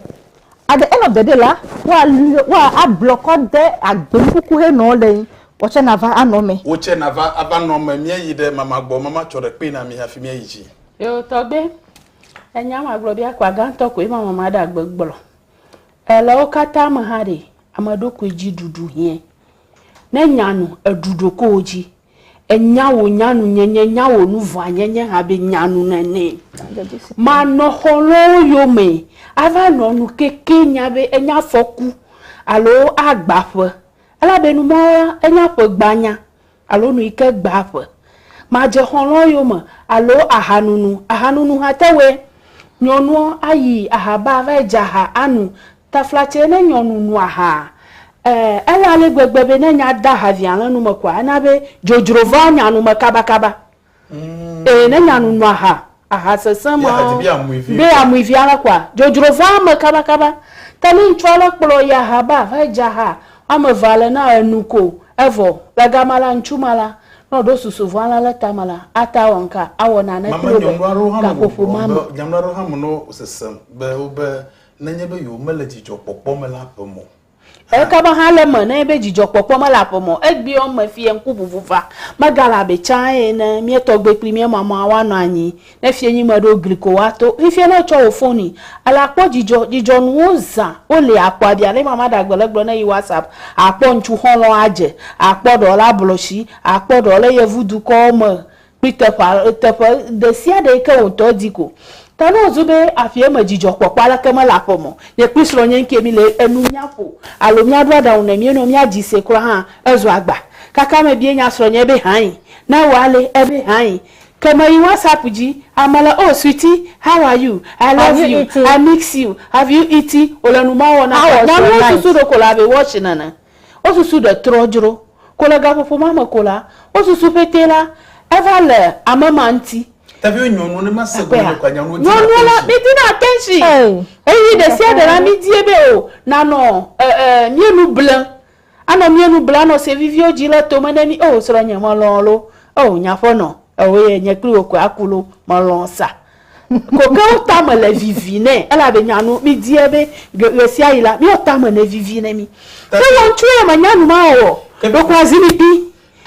D: At the end of the day la, wa lɔ, wa a blɔkɔ de agbe nukuku he nɔ le yi, wɔ tsɛ na va a nɔ me. Wo tsɛ na va a va
B: nɔ me. Mía yi ɖe mama gbɔ, mama tsɔ ɖe kpe na mi hafi mía yi dzi. Eo tɔgbe,
C: enya ma gblɔ be akpa gãtɔ koe ma mama ɖe agbe gblɔ. E le wo kata me hã ɖe, ameɖokui dzi ɖuɖu hiɛ. Ne nya nu, eɖu ɖokowo dzi. Enya wò nyanunyenye, nya wò nuvɔanyenye abe nyanu nene. Manɔ xɔlɔ̃wo yome ava nɔ nu keke nya be enye afɔku alo agba ƒe, elabe numɔwo la, enye aƒe gbanya alo nu yi ke gbaa ƒe. Madze xɔlɔ̃wo yome alo aha nunu, aha nunu ha te wɔe. Nyɔnuɔ ayi aha ba va yi dze aha anu Taflatsɛ ne nyɔnu nu aha, ẽ, ele ale gbegbe be ne nya de ahaviã le nu me koa, ena be dzodzro vaa nya nu me kabakaba. Ẽ, ne nyanu nu aha, aha sesẽ ma, be amui viã le koa, dzodzro vaa eme kabakaba. Ta ne ŋutsua le kplɔ yi aha ba, va yi dze aha woame eve ale na enu ko, evɔ. Le gama la, ŋutsu ma la, ne wòɖo susu vɔ̃ ale le tame la, ate awɔ nuka? Awɔ nane kpli wo le gaƒoƒo ma me.
B: nenye be yewomele dzidzɔkpɔkpɔ me le aƒe me o. Eka be hã
C: le eme nenye be dzidzɔkpɔkpɔ mele aƒe me o. Egbeɔ me fiɛ ŋkuʋuʋu va. Megale abe tsã ene mía tɔgbui kpli mía mama woanɔ anyi ne fiɛnyi me ɖo gli ko woato. Fifia ne etsɔ wò foni ele akpɔ dzidzɔ. Dzidzɔnuwo zã woli akpɔ abia ne mama ɖagbe le gblɔ ne yi WhatsApp, akpɔ ŋtsu xɔlɔ adze, akpɔ ɖewo le ablɔtsi, akpɔ ɖewo le yevudukɔwo me Nuteƒea, teƒe ɖe sia ɖe yi ke wò ŋutɔ di ko. Ta ne wòzu be aƒea me dzidzɔkpɔkpɔ aleke mele aƒe me o, nye kple srɔ̃nye ŋkee míle enu nya ƒo alo míaɖo aɖaŋu ne míenɔ mía dzi se kura hã, ezua agba. Kaka mebie nya srɔ̃nye be hãe. Ne ewɔ ale, ebe hãe. Ke meyi WhatsApp dzi, ame le, Oh, sweetie, how are you? I Have love you you. eaten? I miss you. Have you eaten? Wòle nu ma wɔna How ta. was your Nyanuwo night? susu ɖeko le abe watch nene. Wo susu ɖe trɔ dzro. Ko le gaƒoƒo ma me ko la, wo susu ƒete la eva le ame ma ŋuti. Tavio nyɔnuwo
B: ne ma se gɔme ko anya wo dina attention. Nyɔnuwo la mi dina
C: attention. Ɣeyiɣi ɖe sia ɖe la mi die be o na nɔ mía nu ble. A nɔ mía nu ble a nɔ se viviwo dzi le tome ne mi. O srɔ̃nye me lɔ̃ lo. O nye aƒenɔ ewɔe nye kpli wò koe a ku lo me lɔ̃ sa. Kokewo tame le vivi nɛ, elabe nyanu midiɛ be ɣesiaɣi la, miawo tame nevivi ne mi. Ke wɔ ŋutsu ye menya nu ma wɔwɔ ɖeko azi mi kpi.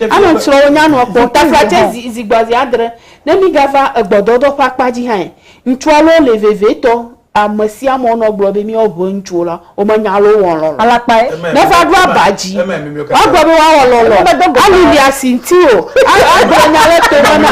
C: Ame ŋtsrɔwo nya nua kpɔ. Taflatse zi zi gbɔazi adre ne mi gava egbɔdɔdɔ ƒe akpa dzi hãe, ŋtsua loo le vevetɔ Ame sia ame wonɔ gblɔ be míawo ʋe ŋutsuwo la, womenya loo wɔ lɔlɔ. Alakpae ne va ɖo aba dzi, woagblɔ be woawɔ lɔlɔ, ali lia si ŋuti o, agblɔ nya ɖe to me na.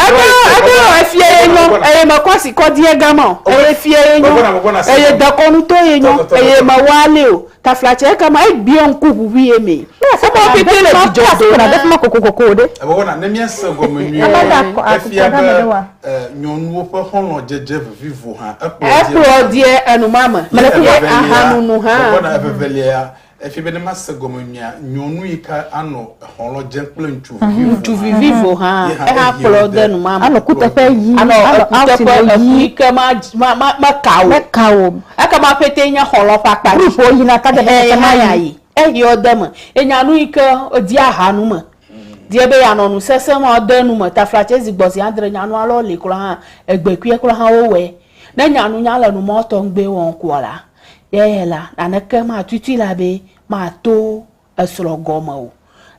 B: Eɖo efie
C: ye nyɔ, eye mekɔ asi kɔ diegama o, eye fie ye nyɔ, eye dekɔnu to ye nyɔ, eye mewɔ alé o. Taflatse kama egbiɔ ŋku ʋuʋui ye me. Woawo pɛtɛ le dzidzɔ dom. Ame aɖe kɔ ɖe afima kokokoko
D: ɖe. Wɔna, ne míase
B: gɔme nyuie la, efia be nyɔnuwo ƒe xɔlɔ̃dzedze vivivo hã ekplɔ ɖi. Ekplɔ ɖi
C: enumame. Evelia, gbɔgbɔ na eveveliae ya.
B: Efia be ne míase gɔme nyuie la, nyɔnu yi ke anɔ. Xɔlɔ̃ dze kple ŋutsuvi vivo hã. Ŋutsuvi vivo hã,
C: eha kplɔ de numame. Anɔ kuteƒe ʋi.
D: Anɔ kuteƒe
C: ʋi. Eku yi ke meka o. Meka o. Ekema ƒete nye xɔlɔ̃ ƒe akpa dzi. Ƒuƒoƒo yina ta ɖe ƒe
D: ma ya yi.
C: Ehiɔ de eme. Enya nu yi ke di aha nu me. Die be yeanɔ nu sesẽ ma de nu me. Taflatse zi gbɔ zi adre nya nua lɔ li kura hã. Egbe kpuie kura hã wo wɔe. Ne nya nu nya le nu mɔ tɔŋgbe wɔm kua la, ye la, naneke ma tuitui la be ma to esrɔ̃ gɔme o.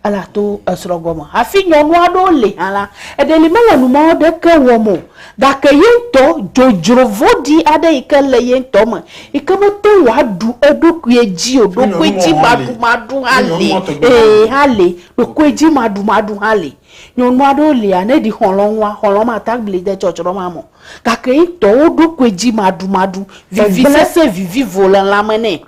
C: Ele ato esrɔ̃ gɔme. Hafi nyɔnu aɖewo li hã la, eɖe li mele numɔ̃ ɖeke wɔm o, gake ye ŋutɔ dzodzro vɔ̃ɖi aɖe yi ke le ye ŋutɔ me yi ke mete ŋu aɖu eɖokui dzi o, ɖokuidzimaɖumaɖu hã li, ɛɛ, hã li, ɖokuidzimaɖumaɖu hã li. Nyɔnu aɖewo lia, ne ɖi xɔlɔ̃ nua, xɔlɔ̃ mate ŋu agbli de tsɔtsrɔ̃ ma me o, gake ye ŋutɔ wo ɖokuidzimaɖumaɖu, vivisese vivivo le lãme nɛ.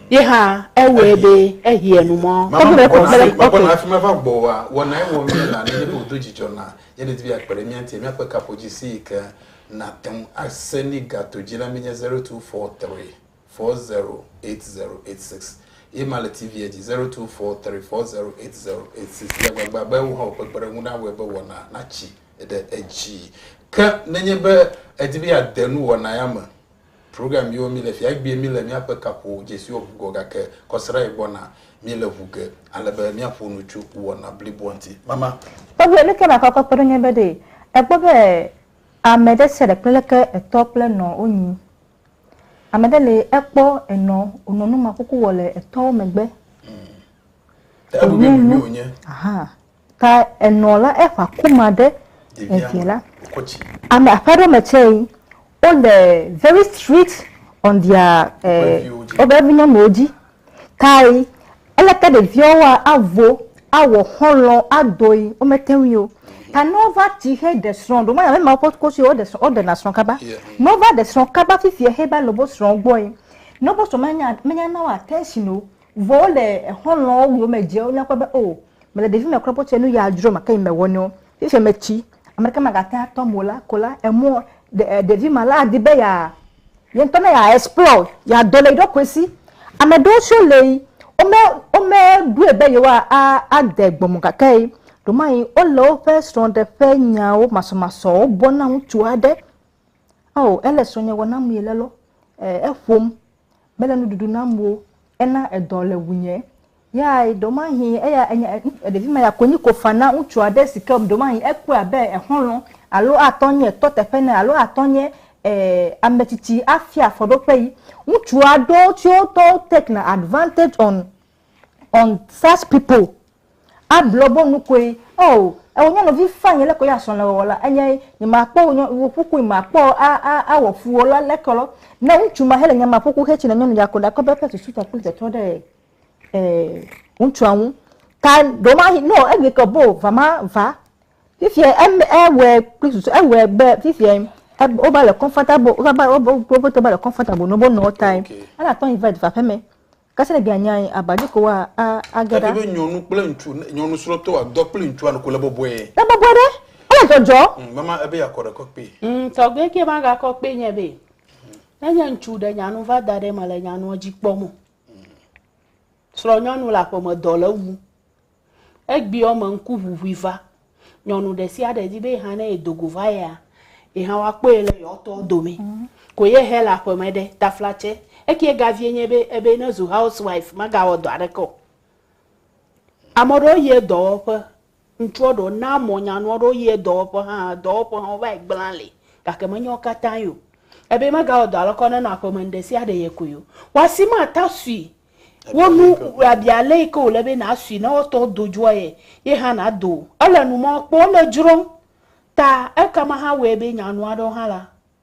C: Ye hã ewɔe be ehiɛ nu mɔ. Mama me kpɔna hafi mekpɔna hafi
B: meva gbɔ wa wɔna ye wɔ mí la nenye be wòdo dzidzɔ na ye nedi be akpe ɖe mía ŋuti míaƒe kaƒodzi si yi ke nàte ŋu ase mí gato dzi la menye zero two four three four zero eight zero eight six ye ma le TV-a dzi zero two four three four zero eight zero eight six le agbagba be wò hã wò ƒe kpeɖeŋu nawɔe be wɔna natsi ɖe edzi ke nenye be èdi be yeade nuwɔna ya me. Program yiwo mi le fia egbie mi le miaƒe kaƒo dzesiwo ŋu gɔ gake kɔsrae gbɔna mi le ŋu ge ale be miaƒo nu tso wɔna bliboa ŋuti. Mama. Tɔgbuiɛ nuke nakɔ
D: kɔ kpeɖo nye be ɖe ekpɔ be ame ɖe sia ɖe kple leke etɔ kple enɔ wo nyi. Ame ɖe le ekpɔ enɔ wo nɔ nu makuku wɔ le etɔwo megbe. Hm.
B: Te eɖu be nui mi wo nye. Ahaa.
D: Ta enɔ la eƒe aku ma ɖe evia la.
B: Ame aƒe aɖewo me
D: tsɛ yi wole very strict on their eh, woƒe vinyɔnuwo dzi. Tae eleke ɖeviawoa avo awɔ xɔlɔ adoe womete ŋui o. Ta ne wova ti heɖe srɔ̃ ɖo manya be ma woƒe kosi woɖe srɔ̃ woɖena srɔ̃ kaba. Ne wova ɖe srɔ̃ kaba fifia heva le woƒe srɔ̃ gbɔe. Ne woƒe srɔ̃ menya menyana wo attention o Vɔ wole exɔlɔ̃wo wu wome dze wonye kpɔ be o mele ɖevi me kura kpɔ tse nu ya dzro make yi mewɔ nɛo fifia me tsi ame ɖeke maga te atɔ mo la ko la emɔ ɖe ɖevi ma la adi be ya yentɔ ne ya explore ya dɔ le yi ɖɔkoe si ame ɖewo tse le yi wome wome ɖoe be yewoa a a de gbɔ mo gake yi ɖomayi wole woƒe srɔɖe ƒe nyawo masɔ masɔwo bɔ na ŋutsu aɖe ao ele srɔnye wɔ nam yi le lɔ e eƒom. mele nuɖuɖu nam o, ena edɔ le ŋunye. Ya ɖewomahĩ eya enye ɖevi ma ya konyi ko fa na ŋutsu aɖe si ke ɖewomahĩ ekpɔe abe exɔlɔ̃ alo atɔ nye tɔ teƒe ene alo atɔ nye e ame tsitsi afia afɔɖoƒee. Ŋutsua ɖewo tsɛ wotɔwo take na advantage on. on such people ablo bo nu koe oh ewɔ nyɔnuvi fine leke wòya srɔ̃ le wɔwɔ la enye nye ma kpɔ wò ƒukui ma kpɔ a a awɔ fu wò la leke lɔ ne ŋutsu ma hele nyama ƒuku he tsi ne nyɔnu ya ko ɖa kɔ be eƒe susu ta kple tɔtɔ ɖe eh ŋutsua ŋu ta ɖo ma hi no egbe ke bo va ma va fifia em ewɔe kple susu ewɔe be fifia wova le comfortable wova ba wobe wobe tɔ ba le comfortable no bo nɔ tae ela tɔ invite va ƒeme Kasi ne via nyae, aba dzi ko wa a age ɖa. Ele be nyɔnu kple
B: ŋutsu, ne nyɔnu srɔtɔ wa dɔ kple ŋutsua noko le bɔbɔe. Le bɔbɔe ɖe,
D: ele dzɔdzɔ. Ŋ, mama ebe ya kɔ ɖe kɔ
B: kpe. Ŋ, tɔgbe ke ma ga
C: kɔ kpe nye be, ne nye ŋutsu ɖe nya nu va da ɖe me le nya nua dzi kpɔ mo. Srɔ nyɔnu le aƒeme dɔ le wu. Egbeɔ me ŋkuʋuʋui va. Nyɔnu ɖesiaɖe di be yeha ne yedo go va yia, yeha woakpɔe le yeɔtɔwo dome. Ko ye hɛ le aƒeme ɖe, taflatse. Eke egavie nye be, ebe ne zu house wife, magawɔ dɔ aɖeke o. Ame ɖewo yie dɔwɔƒe, ŋutsuɔ ɖewo na mɔ nyanua ɖewo yie dɔwɔƒe hã, dɔwɔƒe hã wovayi gbla li, gake menye wo katã ye o. Ebe megawɔ dɔ aleke o, nenɔ aƒeme nuɖesiaɖe ye koe o. Wa si mata sui Wo nu abi ale yi ke wòle be nàsui ne wotɔ do dzoa ye, ye hã nàdo. Ele nu mɔ, kpɔ le dzrom ta ekema hã wɔe be nyanu aɖewo hã la.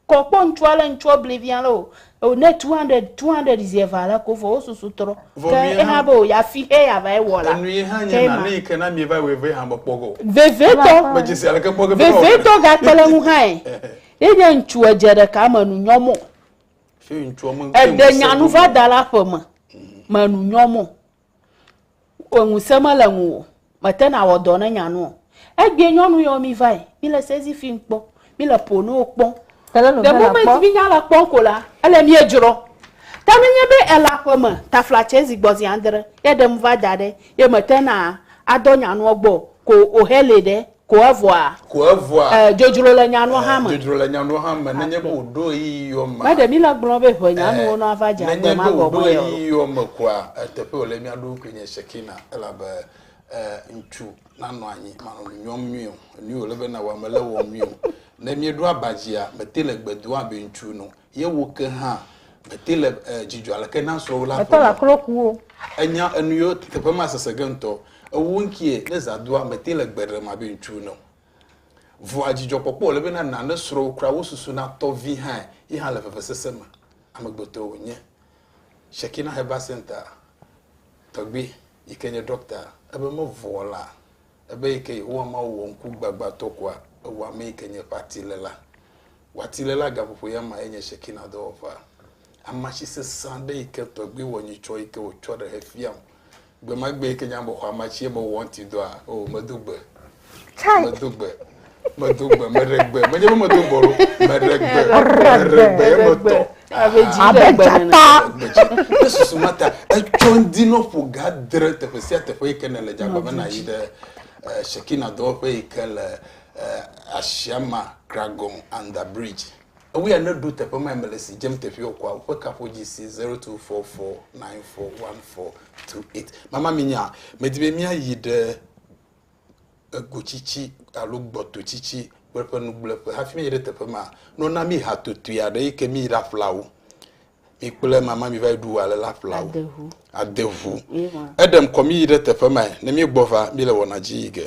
C: Kɔ kpɔ ŋutsu ale ŋutsua bli vi ale o o ne two hundred, two hundred zi eve ale ko vɔ wo susu trɔ. Vɔ Ke nuyehã. ehã be o ya fi xe ya va ye wɔ la. Enuyehã nye Kema. nane yi
B: ke na mieva wɔe vɛ hã me kpɔ gɔ. Vevietɔ, Medzesi
C: aleke kpɔ ge
B: be na wɔe. vevietɔ gakpe le
C: ŋu hãe. Ye nye ŋutsu edze ɖeka me nu nyɔ mɔ,
B: Eɖe nyanu va da
C: la ƒe me, me nu nyɔ mo. Enu se me le ŋu o, me te na wɔ dɔ ne nyanu o. Egbie nyɔnu yɔ mi va yi, mi le sezi fi ŋkpɔ, mi le po no kpɔ. Le mo me ti mi nya la kpɔ ko la, ele mi edzrɔ. Ta ne nye be ela ƒe me, tafla tse zi gbɔ zi andre, ye ɖem va da ɖe, ye me te na a dɔ nyanua gbɔ ko o he le ɖe. Ko evɔa. Ko evɔa. Ɛɛ, dzodzro le nyanuwo hã me. Dzodzro le nyanuwo hã me. Nenye be wòɖo
B: ɣeyiɣiwo mea. Meɖe míle gblɔm be ʋe
C: nyanuwo nɔ ava dze agbe ma gɔmee o. Nenye be wòɖo
B: ɣeyiɣiwo me koa, eteƒe wòle mía ɖokui nye Shekina, elabe ŋutsu nanɔ anyi manɔ nu nyɔm nyuie o. Enui wòle be nàwɔ, mele ewɔm nyuie o. Ne míeɖo aba dzia, mete le gbe dom abe ŋutsu ene o. ye wò ke hã mète le dzidzɔ aleke na srɔ̃wò la ƒe o.
D: Ènya enu yewo
B: teƒe ma sese ge ŋutɔ. Ewò ŋkie ne zã doa mète le gbe ɖem abe ŋutsu ene o. Vɔa dzidzɔkpɔkpɔ wòle be na na ne srɔ̃wò kura wò susu natɔ vi hã ye hã le vevesese me. Amegbetɔe wònye. Shekina Herbal Centre tɔgbi yike nye ɖɔkta ebe mevɔ̃a la, Ebe yi ke Yehowa Mawu wɔ ŋku gbagbãtɔ koa, ewɔ ame yi ke nye eƒe atiléla. Wò atiléla gaƒoƒo ya mae nye Shekina dɔwɔƒea. Amatsi sesẽ aɖe yi ke tɔgbui wɔ nyitsɔ yi ke wòtsɔ ɖe hefiam. Gbemagbee yi ke nye ame xɔamatsi ebe wòwɔ ŋutidɔa, oo, medo gbe. Medo gbe. medo gbe meɖe gbe medze be medo gbe meɖe gbe meɖe gbe emetɔ abe
C: dzata ne
B: susu ma ta etsɔ ŋdi nɔ ƒo ga dre teƒe sia teƒe yi ke ne le dzagba me na yi ɖe eh, shekina dɔwɔƒe yi ke le eh, asiama kragon under bridge ewu ya ne ɖo teƒe ma me le si dzem teƒe wɔ kɔa woƒe kaƒo dzi si zero two four four nine four one four two eight mama mi nya medi be mia yi ɖe egotsitsi alo gbɔtotsitsi kple eƒe nugblẽƒe hafi míayi ɖe teƒe ma. Ne wona mí hatotui aɖe eyi ke míyi ɖaƒle awu, mi kple mama miva yi ɖu alea ƒle awu, ade ŋu. Eɖem kɔ míyi ɖe teƒe ma ne míegbɔ va míele wɔna dzi yi ge.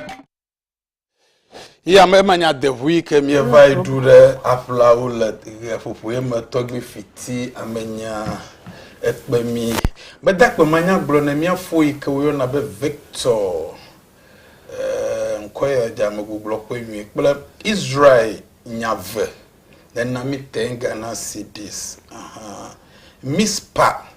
B: Yi ame ema nya deʋui ke mieva yi ɖu ɖe aƒlawo le ʋe ƒoƒoe me tɔgbi fiti amenya ekpe mi. Meda kpe manya gblɔ ne mia fo yi ke woyɔna be Victor eh, ŋkɔ ya dze ame gugblɔ kpe nyui kple Israel nyave nena mi tenga na CDs. Uh -huh. Mispa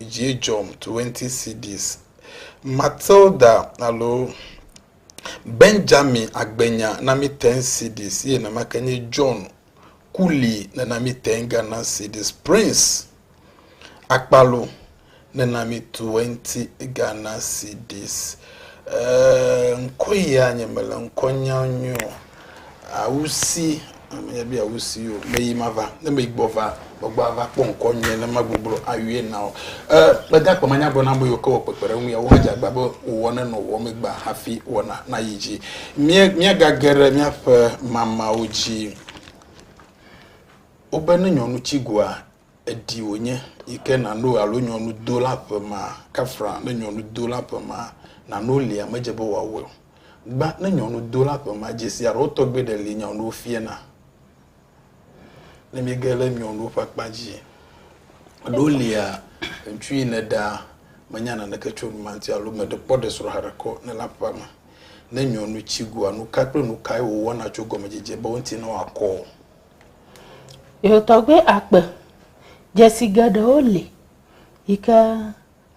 B: dzi dzɔm 20 cedis. Matilda alo Benjamin Agbenya na mi 10 cedis eye nenamake nye John Kuli nena mi 10 Ghana cedis. Prince Akpalo nena mi 20 Ghana cedis. Ɛɛ, ŋkɔ ya nye mele ŋkɔ nyam nyuie o. Awusi, menye be awusi o, meyi mava, ne meyi gbɔ va, gbɔgbɔ ava kpɔ ŋkɔ nyuie ne magbugblo ayɔe na wò. E, gbedakpɔ manya gblɔ na ame yiwo ke wɔ kpekpeɖeŋu ya, wohedze agba be wòwɔ ne nɔ wɔm egbea hafi wɔna nayi edzi. Mía, míagage ɖe míaƒe mamawo dzi. Wobe ne nyɔnu tsi goa, Èɖi wònye yi ke nàno alo nyɔnu do la ƒe ma, kafra ne nyɔnu do la ƒe ma nàno lia medze be wòawɔe o. Gbã ne nyɔnu do la ƒe ma dzesi alo tɔgbe ɖe li nyɔnuwo fiena. Ne míege ɖe nyɔnuwo ƒe akpa dzi alo lia ŋutsu yi nèɖa menya naneke tso numa ŋuti alo meɖe kpɔ ɖe srɔ̃ haɖe kɔ ne la ƒe ma ne nyɔnu tsi goa, nuka kple nukae wòwɔna tso gɔmedzedzea be wo ŋuti ne wòakɔ?
C: Ye tɔgbe akpe dzesi geɖewo li yi ke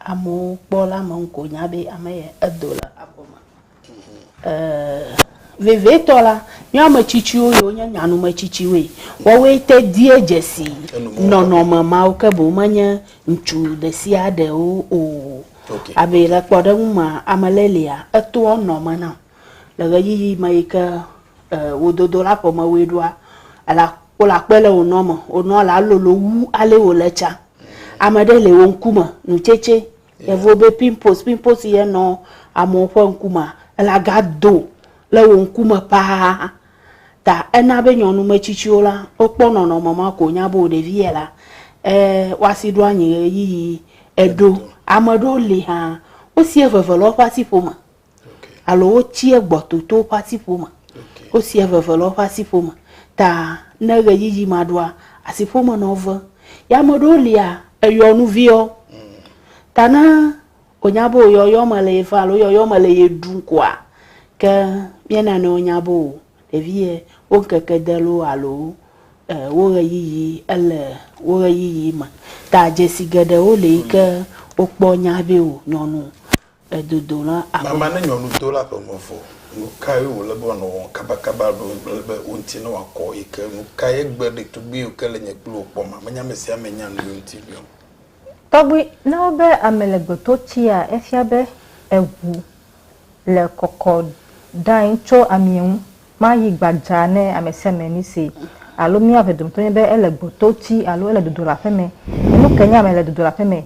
C: amewo kpɔ la me ŋko nya be ame ye edo le abɔ me. Eee vevitɔ la, nye ame tsitsiwo yiwo nye nyanume tsitsiwoe, woawoe te die dzesi nɔnɔme mawo ke boŋ menye ŋutsu ɖe sia ɖewo o. Abe le kpɔɖeŋu mea, ame ɖe lia, etoa nɔ me nam. Le ɣeyiɣi me yi ke wò dodolaƒe me woe ɖoa, ela, wole akpe le wò nɔ me. Wò nɔ la lolo wu ale wòle tsã. Ame ɖe le wò ŋkume, nu tsɛtsɛ, yevuwo be pimples, pimples yi ye nɔ amewo ƒe ŋkumea, ela ga do le wò ŋkume paa. Ta ena be nyɔnu metsitsiwo la, wokpɔ nɔnɔme ma ko wonya be wò ɖevi yɛ la, e, woasi ɖo anyi ɣeyiɣi eɖo. Ame ɖewo li hã, wosi eveve le woƒe asiƒome. alo wotia gbɔ toto woƒe asiƒo me. Wosia veve le woƒe asiƒo me. Ta ne ɣeyiɣi ma ɖoa, asiƒo me nɔ ve. Ya ame ɖewo lia, eyɔ nu viɔ. Ta ne wònya be wòyɔ yɔ me le ye va alo yɔ yɔ me le ye ɖum koa, ke mía nɔewo nya be o, ɖevi ye wo ŋkeke de loo alo e wo ɣeyiɣi ele wo ɣeyiɣi me. Ta dzesi geɖewo li yi ke wokpɔ nya be o nyɔnu Edodo la abe. Mama ne nyɔnu do
B: la ƒe nu vɔ. Nu kae wòle be wòanɔ wɔm kabakaba alo ale be wo ŋuti newɔ akɔ ɣi ke? Nu kae egbe ɖetugbui yiwo ke le nye kple wò kpɔma? Menye ame sia ame nya nuyiwo ŋuti biɔm. Tɔgbi,
D: Ne wobe ame le gbetotsia, efia be eŋu le kɔkɔ dãae tso amie ŋu. Maɣi gbadza ne ame sia ame misee. Alo mía eve dometɔ nye be ele gbototsi alo ele dodo le aƒeme. Enu ke nye ame le dodo le aƒeme,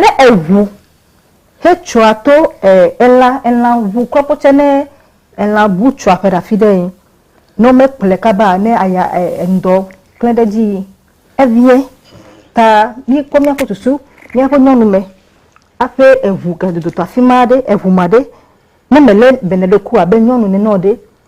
D: Ne eŋu hetsɔa to elã, elã ŋu kɔ kpɔ tsɛ ne elã bu tsɔa ƒe ɖe afi ɖe yi, ne womekplɔe kaba ne aya ŋdɔ klẽ ɖe edzi yi, eviẽ. Ta míkpɔ míaƒe susu, míaƒe nyɔnu me aƒe eŋu ke dodo to afi ma ɖe, eŋu ma ɖe, ne mele bene ɖe ku abe nyɔnu nene o ɖe,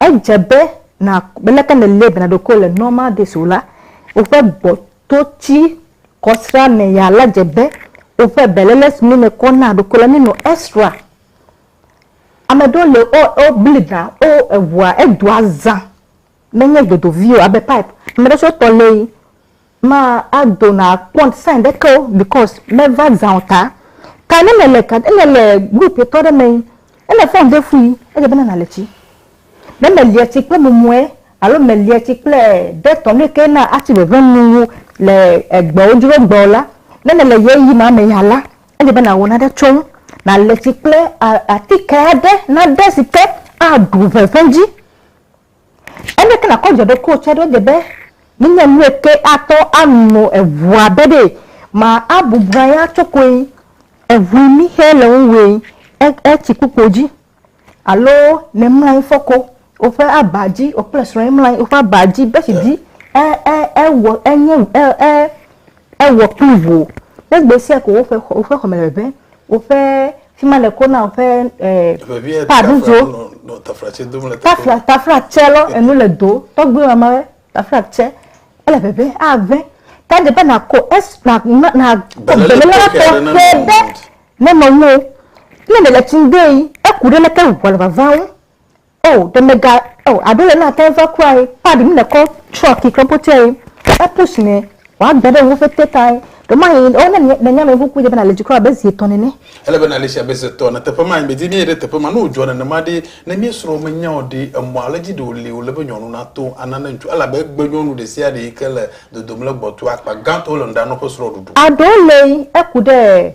D: Edze be nàkpɔ leke nèlé bena ɖokuiwò le Normal Days o la, woƒe gbɔtodzikɔsrã me ya la dze be woƒe beléle si míenɔ kɔ naa ɖokuiwo la míenɔ esrã. Ame aɖewo le wo wobli ɖa, wo eŋua edoa zã menye dodovi o abe pipe. Ame aɖewo tsɛ wotɔ lée Ma ado na kpɔ sign ɖe ke o because me va zã o ta. Ka ne me le ka ne me le group etɔ ɖe me yi ne me phone de fu yi edze be na na le tsi. Ne me lia tsi kple mumue alo me lia tsi kple dettol nu yike na atsi veve nu wu le egbe wo dzro gbe o la ne me le ye yi ma me ya la edze be na wɔ nane tso ŋu. Na le tsi kple atike aɖe na ɖe si ke a ɖu veve dzi. Aleke nàkɔ dze ɖe koatsɔ ɖo dze be menye nu eke atɔ anɔ eŋua be ɖe ma abubu anyi atso koe, eŋu mi xe le ŋu woe e e tsikpokpo dzi alo ne mla anyi fɔ ko woƒe aba dzi wò kple srɔ̃e mla anyi woƒe aba dzi bɛtsi dzi e e ewɔ enye e e. Ewɔ kpli ŋu. Ne gbe sia ko woƒe xɔ, woƒe xɔme le ʋeʋẽ, woƒe fi ma le ko na woƒe eh, paɖudzo. Tafla, tafla tsɛ lɔ, enu le do. Tɔgbi mama wɛ, tafla tsɛ. Ele ʋeʋẽ, aʋẽ. Ta de be na ko es, na, na, na ko bele lɔ tɔxɛ ɖe ne nɔwuwo. Ne le le tsi ŋdee, eku ɖe leke ŋua le vava wo. O, ɖe mega, o, aɖo le na tɛn va kua ye, pa ɖi mi le kɔ tsɔ ki kɔ potia ye, e push ne, wa gbe ɖe wo ƒe te ta ye, ɖo ma ye, o, ne ne nya me ŋu ku ye be na le dzi kɔ abe zi etɔ nene. Ele be na le sia be
B: zi etɔ ne teƒe ma ye be di mi ye ɖe teƒe ma, ne o dzɔ nenema ɖi, ne mi srɔ̃ me nya o ɖi, emɔ ale dzi ɖe o li o le be nyɔnu na to ana ne ŋutsu, elabe egbe nyɔnu ɖe sia ɖe yike le dodom le gbɔtoa, akpa gã tɔ wo le nuɖa nɔ ƒe srɔ̃ ɖuɖu. Aɖo le yi, eku
D: ɖe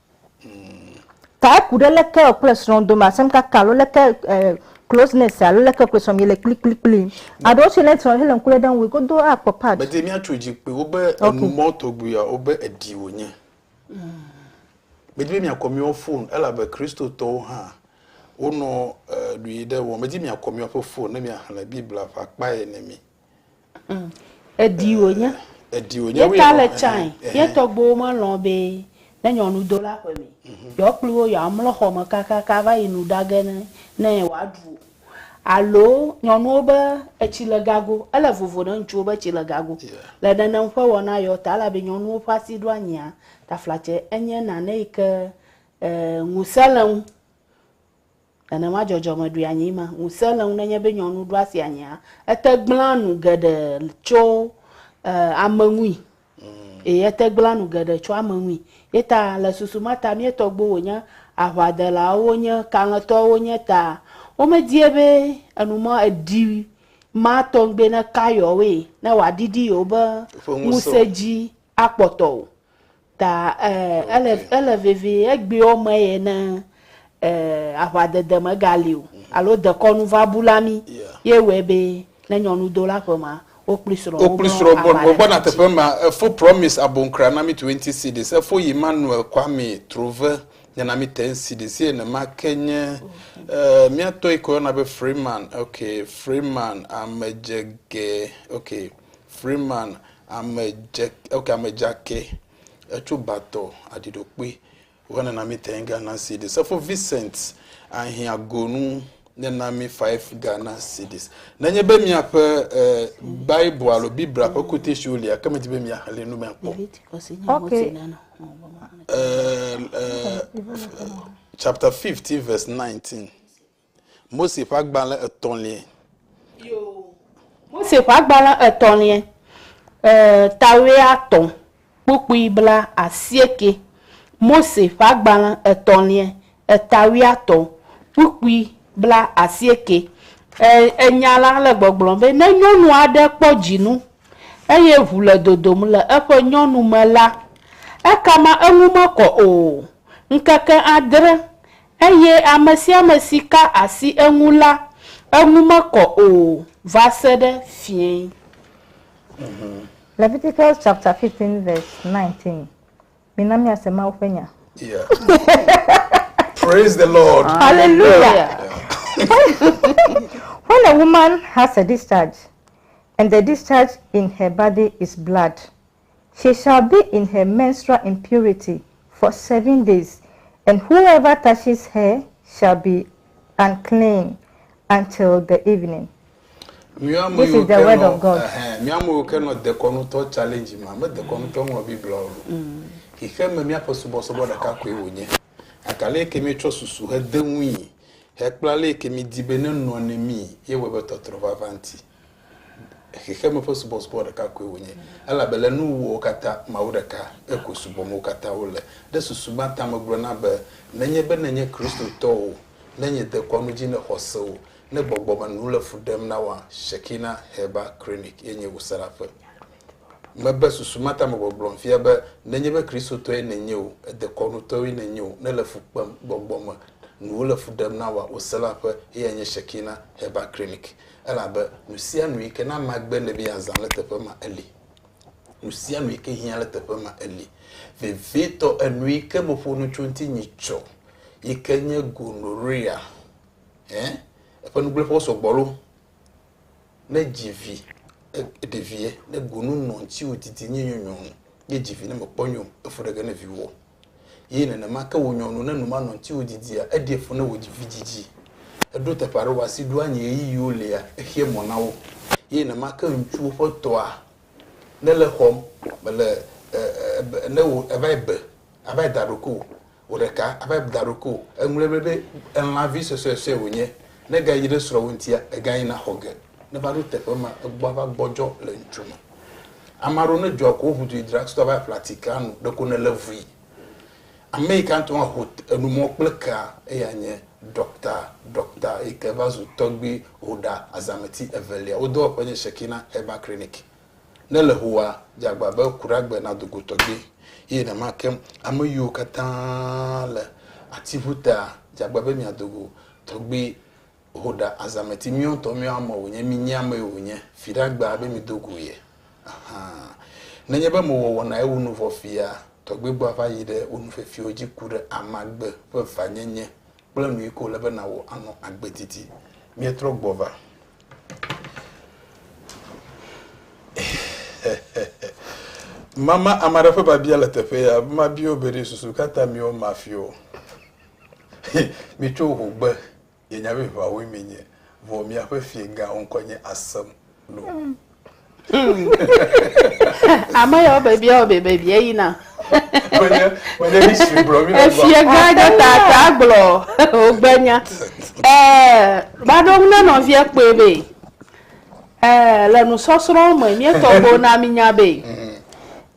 D: Ta eku ɖe leke wò kple srɔ̃ dome asem kaka alo leke closeness alo leke wò kple srɔ̃ miele kplikplikpli. Aɖewo tsɛ le srɔ̃ hele ŋku lém ɖe ŋu godoo akpɔ part. Medi míatso dzi kpui
B: wobe enu mɔ tɔgbuiawo wobe èdi wònye. Medi be miakɔ míawo fon elabe Kristotɔwo hã wonɔ ɖui ɖe wɔ. Medi miakɔ míaƒe fon ne miaxlẽ Biblia ƒe akpa ene mi.
C: Mm. Edi wònye. Edi wònye. Ye ta le tsae. Ye tɔgbuiwo melɔ̃ be ne nyɔnu do ɖe aƒe me, yewoakplɔe wo yewoamlɔ xɔ me kakaka va yi nu ɖa ge ne ne wòaɖu o. Alo nyɔnuwo be etsi le gago, ele vovo ne ŋutsuwo be tsi le gago. Le nenem ƒe wɔna yewo ta, elabe nyɔnuwo ƒe asi ɖo anyia, taflatse enye nane yi ke e ŋusẽ le eŋu. Nenema dzɔdzɔme ɖui anyi ma. Ŋusẽ le ŋu nenye be nyɔnu ɖo asi anyia, ete gblẽa nu geɖe tso ame ŋui. Ee, ete gblẽa nu geɖe tso ame ŋui. Ye ta le susu ma ta mía tɔgbuiwo wònye aʋadelawo wonye, kalẽtɔwo wonye ta womedie be enu ma eɖi ma tɔgbi neka yewoe ne wòaɖiɖi yewoƒe ŋusẽ dzi akpɔtɔ o. Ta e, ele, ele vevie egbewo me ye ne e, aʋadede megali o alo dekɔnu va bu la mí ye wɔe be ne nyɔnudola ƒe ma wo kpli srɔ̃ wo kpli srɔ̃ bɔ bɔ bɔ na
B: teƒe ma efo promise abonkra na mi twenty cities efo yi manuel kwame trove nye na mi ten cities ye ne ma ke nye eh, mia tɔ yi ko yɔna be freeman okay freeman amedzege okay Freeman, ame dze, ok, ame dzakɛ, etso batɔ aɖiɖokpe wɔ nena mi tɛn Ghana cedis. Sefo Vincent ahin agonu nena mi five Ghana cedis. Nenye be miaƒe e, Bible alo Biblia ƒe quotation lia, ke medi be miaxlẽ nu mea kpɔ. Ok. E, e, chapter 15 verse 19. Mose ƒe agbalẽ etɔ̃liae. Yoo,
C: Mose ƒe agbalẽ etɔ̃liae, e, ta wuiatɔ̃, kpukpui blaasiekɛ. Mose ƒe agbalẽ etɔ̃liae, e, ta wuiatɔ̃, kpukpui blaasiekɛ. E, enya la le gbɔgblɔm be ne nyɔnu aɖe kpɔ dzinu eye ʋu le dodom le eƒe nyɔnu me la, ekama eŋu mekɔ o ŋkeke adre Eye ame sia ame si ka asi eŋu la, eŋu mekɔ o va se ɖe fiẽ.
D: Leviticus chapter 15 verse 19 Mina míase Mawu ƒe nya.
B: Praise the Lord. Hallelujah.
D: When a woman has a discharge and the discharge in her body is blood, She shall be in her menstrual impurity for seven days, and whoever touches her shall be unclean until the evening. Mía ame This is yiwo the ke word nɔ of God. ɛhɛn, mía ame yiwo ke nɔ
B: dekɔnutɔ challenge ma me dekɔnutɔ ŋlɔ Biblia o. Xixe me míaƒe subɔsubɔ ɖeka koe wònye. Gake ale ke míetsɔ susu hede ŋui hekpla ale ke mídi be nenɔ ne mí ye wɔe be tɔtrɔ vava ŋuti. Xexeme ƒe subɔsubɔ ɖeka koe wònye, elabe le nuwuwuwo katã, Mawu ɖeka ke koe subɔm wo katã wole. Ɖe susu ma ta megblɔna be, Nenye be nènye Kristotɔ o, ne nye dekɔnu dzi ne xɔse o, ne gbɔgbɔ me nu le fu ɖem na woa? Shekinah Heber Krinic ye nye wò srafɛ. Mebe susu ma ta megbɔgblɔm fia be, nenye be Kristotɔe nènye o, edekɔnutɔe nènye o, ne le fu kpem, gbɔgbɔ me nuwo le fu ɖem na woa? Wò srafɛ ye anye Shekinah Heber Krinic. Elabe nusianu yi ke na magbe le mia zã le teƒe ma eli. Nusianu yi ke hiã le teƒe ma eli. Vevitɔ, enu yi ke meƒo nu tso ŋuti nyi tsɔ yi ke nye gonorrhea, ẽ, eƒe nugblẽƒewo sɔgbɔ lo. Ne dzi vi, ɖevie, ne gonu nɔ ŋutiwò didi nye nyɔnyɔnu, ne dzi vi ne mekpɔ nyɔ o, efu ɖege ne viwò. Eye nenema ke wò nyɔnu, ne numanɔ ŋutiwò didia, eɖia fu ne wò vi dzidzi. Eɖo teƒe aɖe wò asi ɖoa nyi ɣeyiɣiwo lia, exea mɔ na wo. Eye nenema ke ŋutsuwo ƒe tɔa, ne le xɔm, mele ne wò eva yi be, ava yi da ɖoke o, wò ɖeka ava yi da ɖoke o. Eŋlɔe be be elãvi suesuesue wònye, ne ega yi ɖe srɔ̃wò ŋutia, ega yina xɔ ge. Neva ɖo teƒe ma, egbɔa va gbɔdzɔ le ŋutsu me. Ame aɖewo ne dzɔa ko ʋu du drug store va ƒla ti ka nu, ɖeko ne le vui. Ame yi ka ŋutɔ aho enumɔ kple kea, eya nye ɖɔkta, ɖɔkta yi ke va zu tɔgbui Hoda Azameti Evelia. Wo dɔwɔƒe nye Shekina Herbal Clinic. Ne le hoa, dze agba be ku ɖe agbe na do go tɔgbui. Eye nenema ke ame yiwo katã le atiŋuta, dze agba be mia do go tɔgbui. Ho ɖa azameti miɔtɔ miɔ ame wònye mi nyi ame wònye fi ɖa gbaa be mi do gu ye ahan nenye be mo wɔ wɔna ye wo nu vɔ fia tɔgbe gbɔ ava yi ɖe wo nu fefiwo dzi ku ɖe amagbe ƒe va nye nye kple nu yi ke wòle be na wò anɔ agbe didi mie trɔ gbɔ va mama ame aɖe ƒe babia le teƒe ya ma bio be ɖe susu kata miɔ ma fio mi tso ho gbe Nye nya be ʋawoe mienye, vɔ miaƒe fiegãwo ŋkɔ nye Asem lo.
C: Ame yawo be biawo be be bia yina. Menye
B: menye history gblɔ mi le gbɔ.
C: Fiegã ɖe ta ta gblɔ wogbe nya. Ɛɛ maɖo ŋu ne nɔvia kpɔe be ɛɛ le nusɔsrɔ̃ me mietɔgbewo na minya be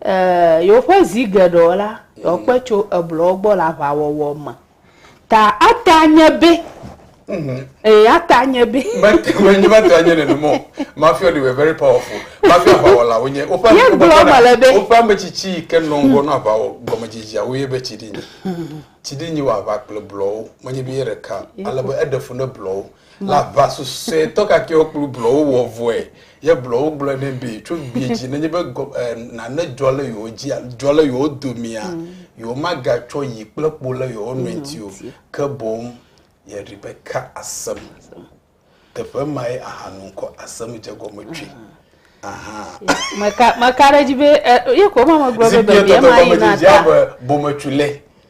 C: ɛɛ yewoƒe zi geɖewo la yewoakpe tso eblɔwo gbɔ le aʋawɔwɔ me. Ta ate anye be. Mm-hmm. Ee, ate anye be. Menye mate
B: anye nenema o. Mafia ɖi were very powerful. Mafia aʋawɔla wonye. Woƒe woƒe ame tsitsi yi ke nɔ ŋgɔ nɔ aʋawɔ gɔmedzedzea woye be tsidinyi. Tsidinyi wɔ aʋa kple blɔwo. Menye be ye ɖeka. Ale be eɖe fu ne blɔwo. Le aʋa susɔetɔ kakɛwo kplu blɔwo wɔ vɔe, ye blɔwo gblɔe nɛ be tso gbee dzi nenye be gɔ, eh, nane dzɔ le yewo dzi, dzɔ le yewo domea, mm. yewo magatsɔ yi kple kpo le yewo nɔe ŋuti o, ke boŋ ye Rebeka asem. Teƒe mae ahanu ŋkɔ asem dze gɔme tsoe. Ah.
C: Meka ɖe edzi be ye ko ma megblɔ be bebia ma yi na ta. Bometsu lɛ.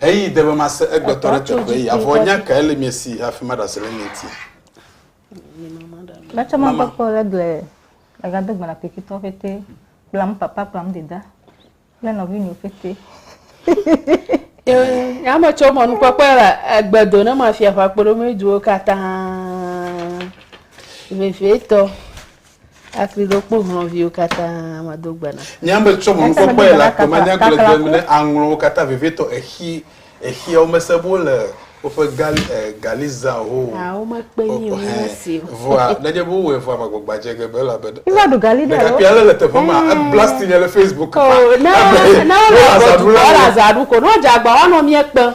B: Eyi de be mase egbetɔ ɖe teƒe ya, vɔ nya kae le mia si hafi maɖe asi le mia ŋuti?
D: Letsɔ makpɔkpɔ le gble egado gbe na pikitɔ fete kplam papa kplam deda kple nɔvinyɔ fete.
C: Ya me tsɔ mɔnu kpɔkpɔ le egbedo ne mafia ƒakpoɖo me duwo katã. Vevietɔ. Afli ɖo kpo hlɔ̃viwo katã mado gbe na. Nye ame tsɔ mɔ ŋkɔ
B: kpɔe le akpe manya glegleŋ me ne aŋlɔwo katã vevietɔ exi exi wo mese bo le woƒe gal eh, galiza ho o. Ah, wo me kpe nyi o
C: nyi mesi o. Vɔa nedje bo
B: wɔe vɔa magbɔgba dje ge be la be. I va ɖu gali ɖe alo. Ɖekakpui
D: ale le teƒe ma
B: eh. eblastinye le Facebook kpa. Oh, ne ne wo le agɔ dukɔ
C: la zaɖu ko ne wo dze agba wa nɔ mie kpe.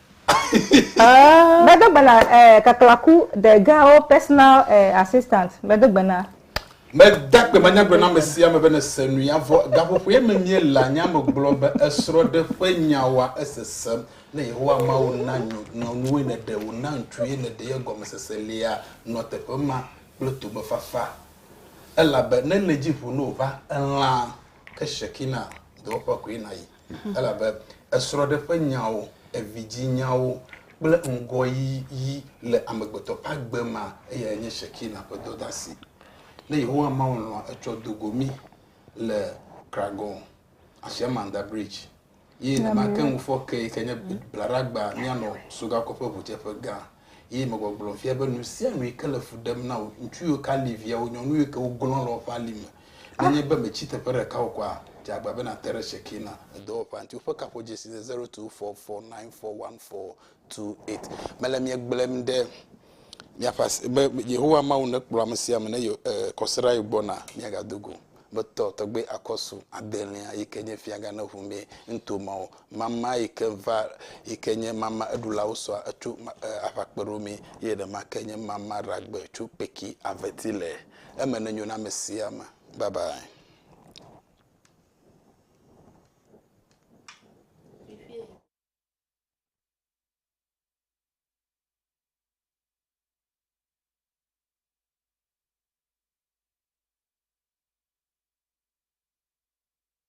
D: Ah. Medo gbe na eh, kaklaku the girl personal eh, assistant. Medo gbe na. Meda
B: gbe na nyagblɔɖeamesia be nese nu ya vɔ. Gaƒoƒoe me míele anya me gblɔ be esrɔ̃ɖe ƒe nyawoa esese ne Yehowa Mawu na nyɔ, nyɔnuwoe nèɖe wò na ŋutsuwoe nèɖe ye gɔmesese lia nɔ teƒe ma kple togbefafa. Elabe ne nèdzi ƒo ne wòva elã ke Shekinah dɔwɔƒea koe nàyi. Elabe esrɔ̃ɖe ƒe nyawo, evidzinyawo kple ŋgɔyiyi le amegbetɔ ƒe agbe mea, eyae nye Shekina ƒe dɔdeasi. Ne Yehowa Mawu lɔ̃a etsɔ do go mí le Kragon, Ashiamanda Bridge, ye nemate ŋu fɔ ke yi ke nye blaɖagba míanɔ Sogakɔ ƒe ʋudzeƒe gã, ye megbɔgblɔm fia be nu sia nu yi ke le fu ɖem na wò, ŋutsu yiwo ke ali viawo, nyɔnu yiwo ke woglɔ̃ le woƒe ali me, Ne enye be mètsi teƒe ɖeka o kɔa, dze agbagba be nàte ɖe Shekinah edɔwɔƒea ŋuti. Woƒe kaƒodzesi nye zero two four four nine four one four two eight. Mele mia gblɔm ɖe miaƒe asi be Yehowa Mawu nekplɔ ame sia ame ne yewo e kɔsiɖa yi gbɔ na miagado go. Betɔ tɔgbe akɔsu adelia yi ke nye fiagã ne ŋu mee nuto mawo. Mama yi ke va yi ke nye mama eɖulawo sɔa etso e aʋakpeɖomee eye ɖema ke nye mama ɖagbe tso kpeki aveti le. Eme nenyo na ame sia ame. Bye bye.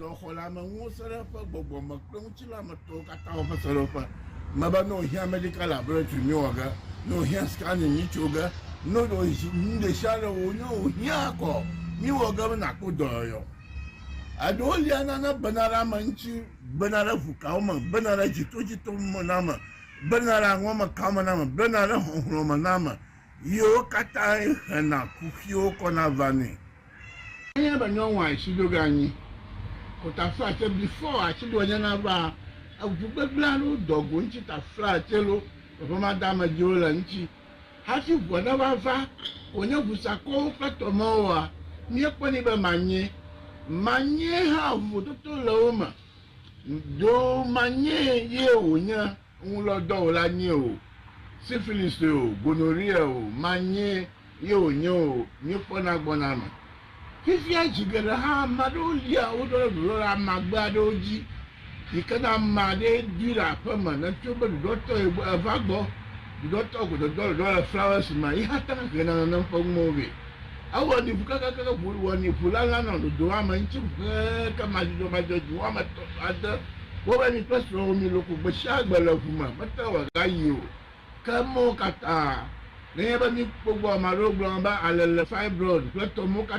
F: Dɔxɔleameŋuwo sẽɖeƒe, gbɔgbɔme kple ŋutilãmetɔwo katã wɔ eƒe sẽɖeƒe. Mebe ne wòhiã medical laboratory mí wɔ ge, ne wòhiã scanning mí tso ge, ne nuɖesiaɖe wɔ wonye wòhiã kɔ mí wɔ ge be nàkpɔ dɔyɔyɔ. Eɖewo lia nane bena ɖe ame ŋuti, bena ɖe ŋukawo me, bena ɖe dzitodzitomename, bena ɖe aŋɔmekamename, bena ɖe xɔxlɔ̃mename, ye wo katãe hena kuxiwo kɔna vanɛ. Enye be nyɔnua ŋtsi ɖo ge anyi ko ta fla tse before atsi ɖoa nye na va eŋu gbegble alo dɔ go ŋtsi ta fla tse lo teƒe ma da me dzi wo le ŋtsi hafi ŋua ne va va ko nye ŋu sakɔwo kple tɔ me woa mie kpɔ ni be ma nyee ma nyee hã vovototo le wo me ɖo ma nyee ye wo nye ŋu lɔ dɔ wo la nyee o syphilis o gonorrhea o ma nyee Ye wònye o, míekpɔna gbɔna eme. Fifia zi geɖe hã, ame aɖewo lia wo ɖo ɖe ɖuɖɔla amagbe aɖewo dzi, yi ke ne ame aɖee ɖi le aƒe me ne tso be ɖuɖɔtɔ ye gbɔ eva gbɔ, ɖuɖɔtɔ ko dodɔ ɖuɖɔ le flawesi me ye hate ŋu hena nenem ƒe nuwo vɛ. Ewɔnɛ ŋu kekeake ŋu wɔnɛ ŋu lalã nɔ ɖoɖoa me ŋuti ŋu kekeake madzudzɔmadzudzɔ dzi wɔame etɔ̃ alo ade. Wɔ be mi kple srɔ̃wò miloko gbesiagbe le ŋu me, mete ŋu agayi o. Ke mɔwo katã, nenye be míkpɔ egbɔ ame aɖewo gblɔna be alele fibroid kple tɔmewo katã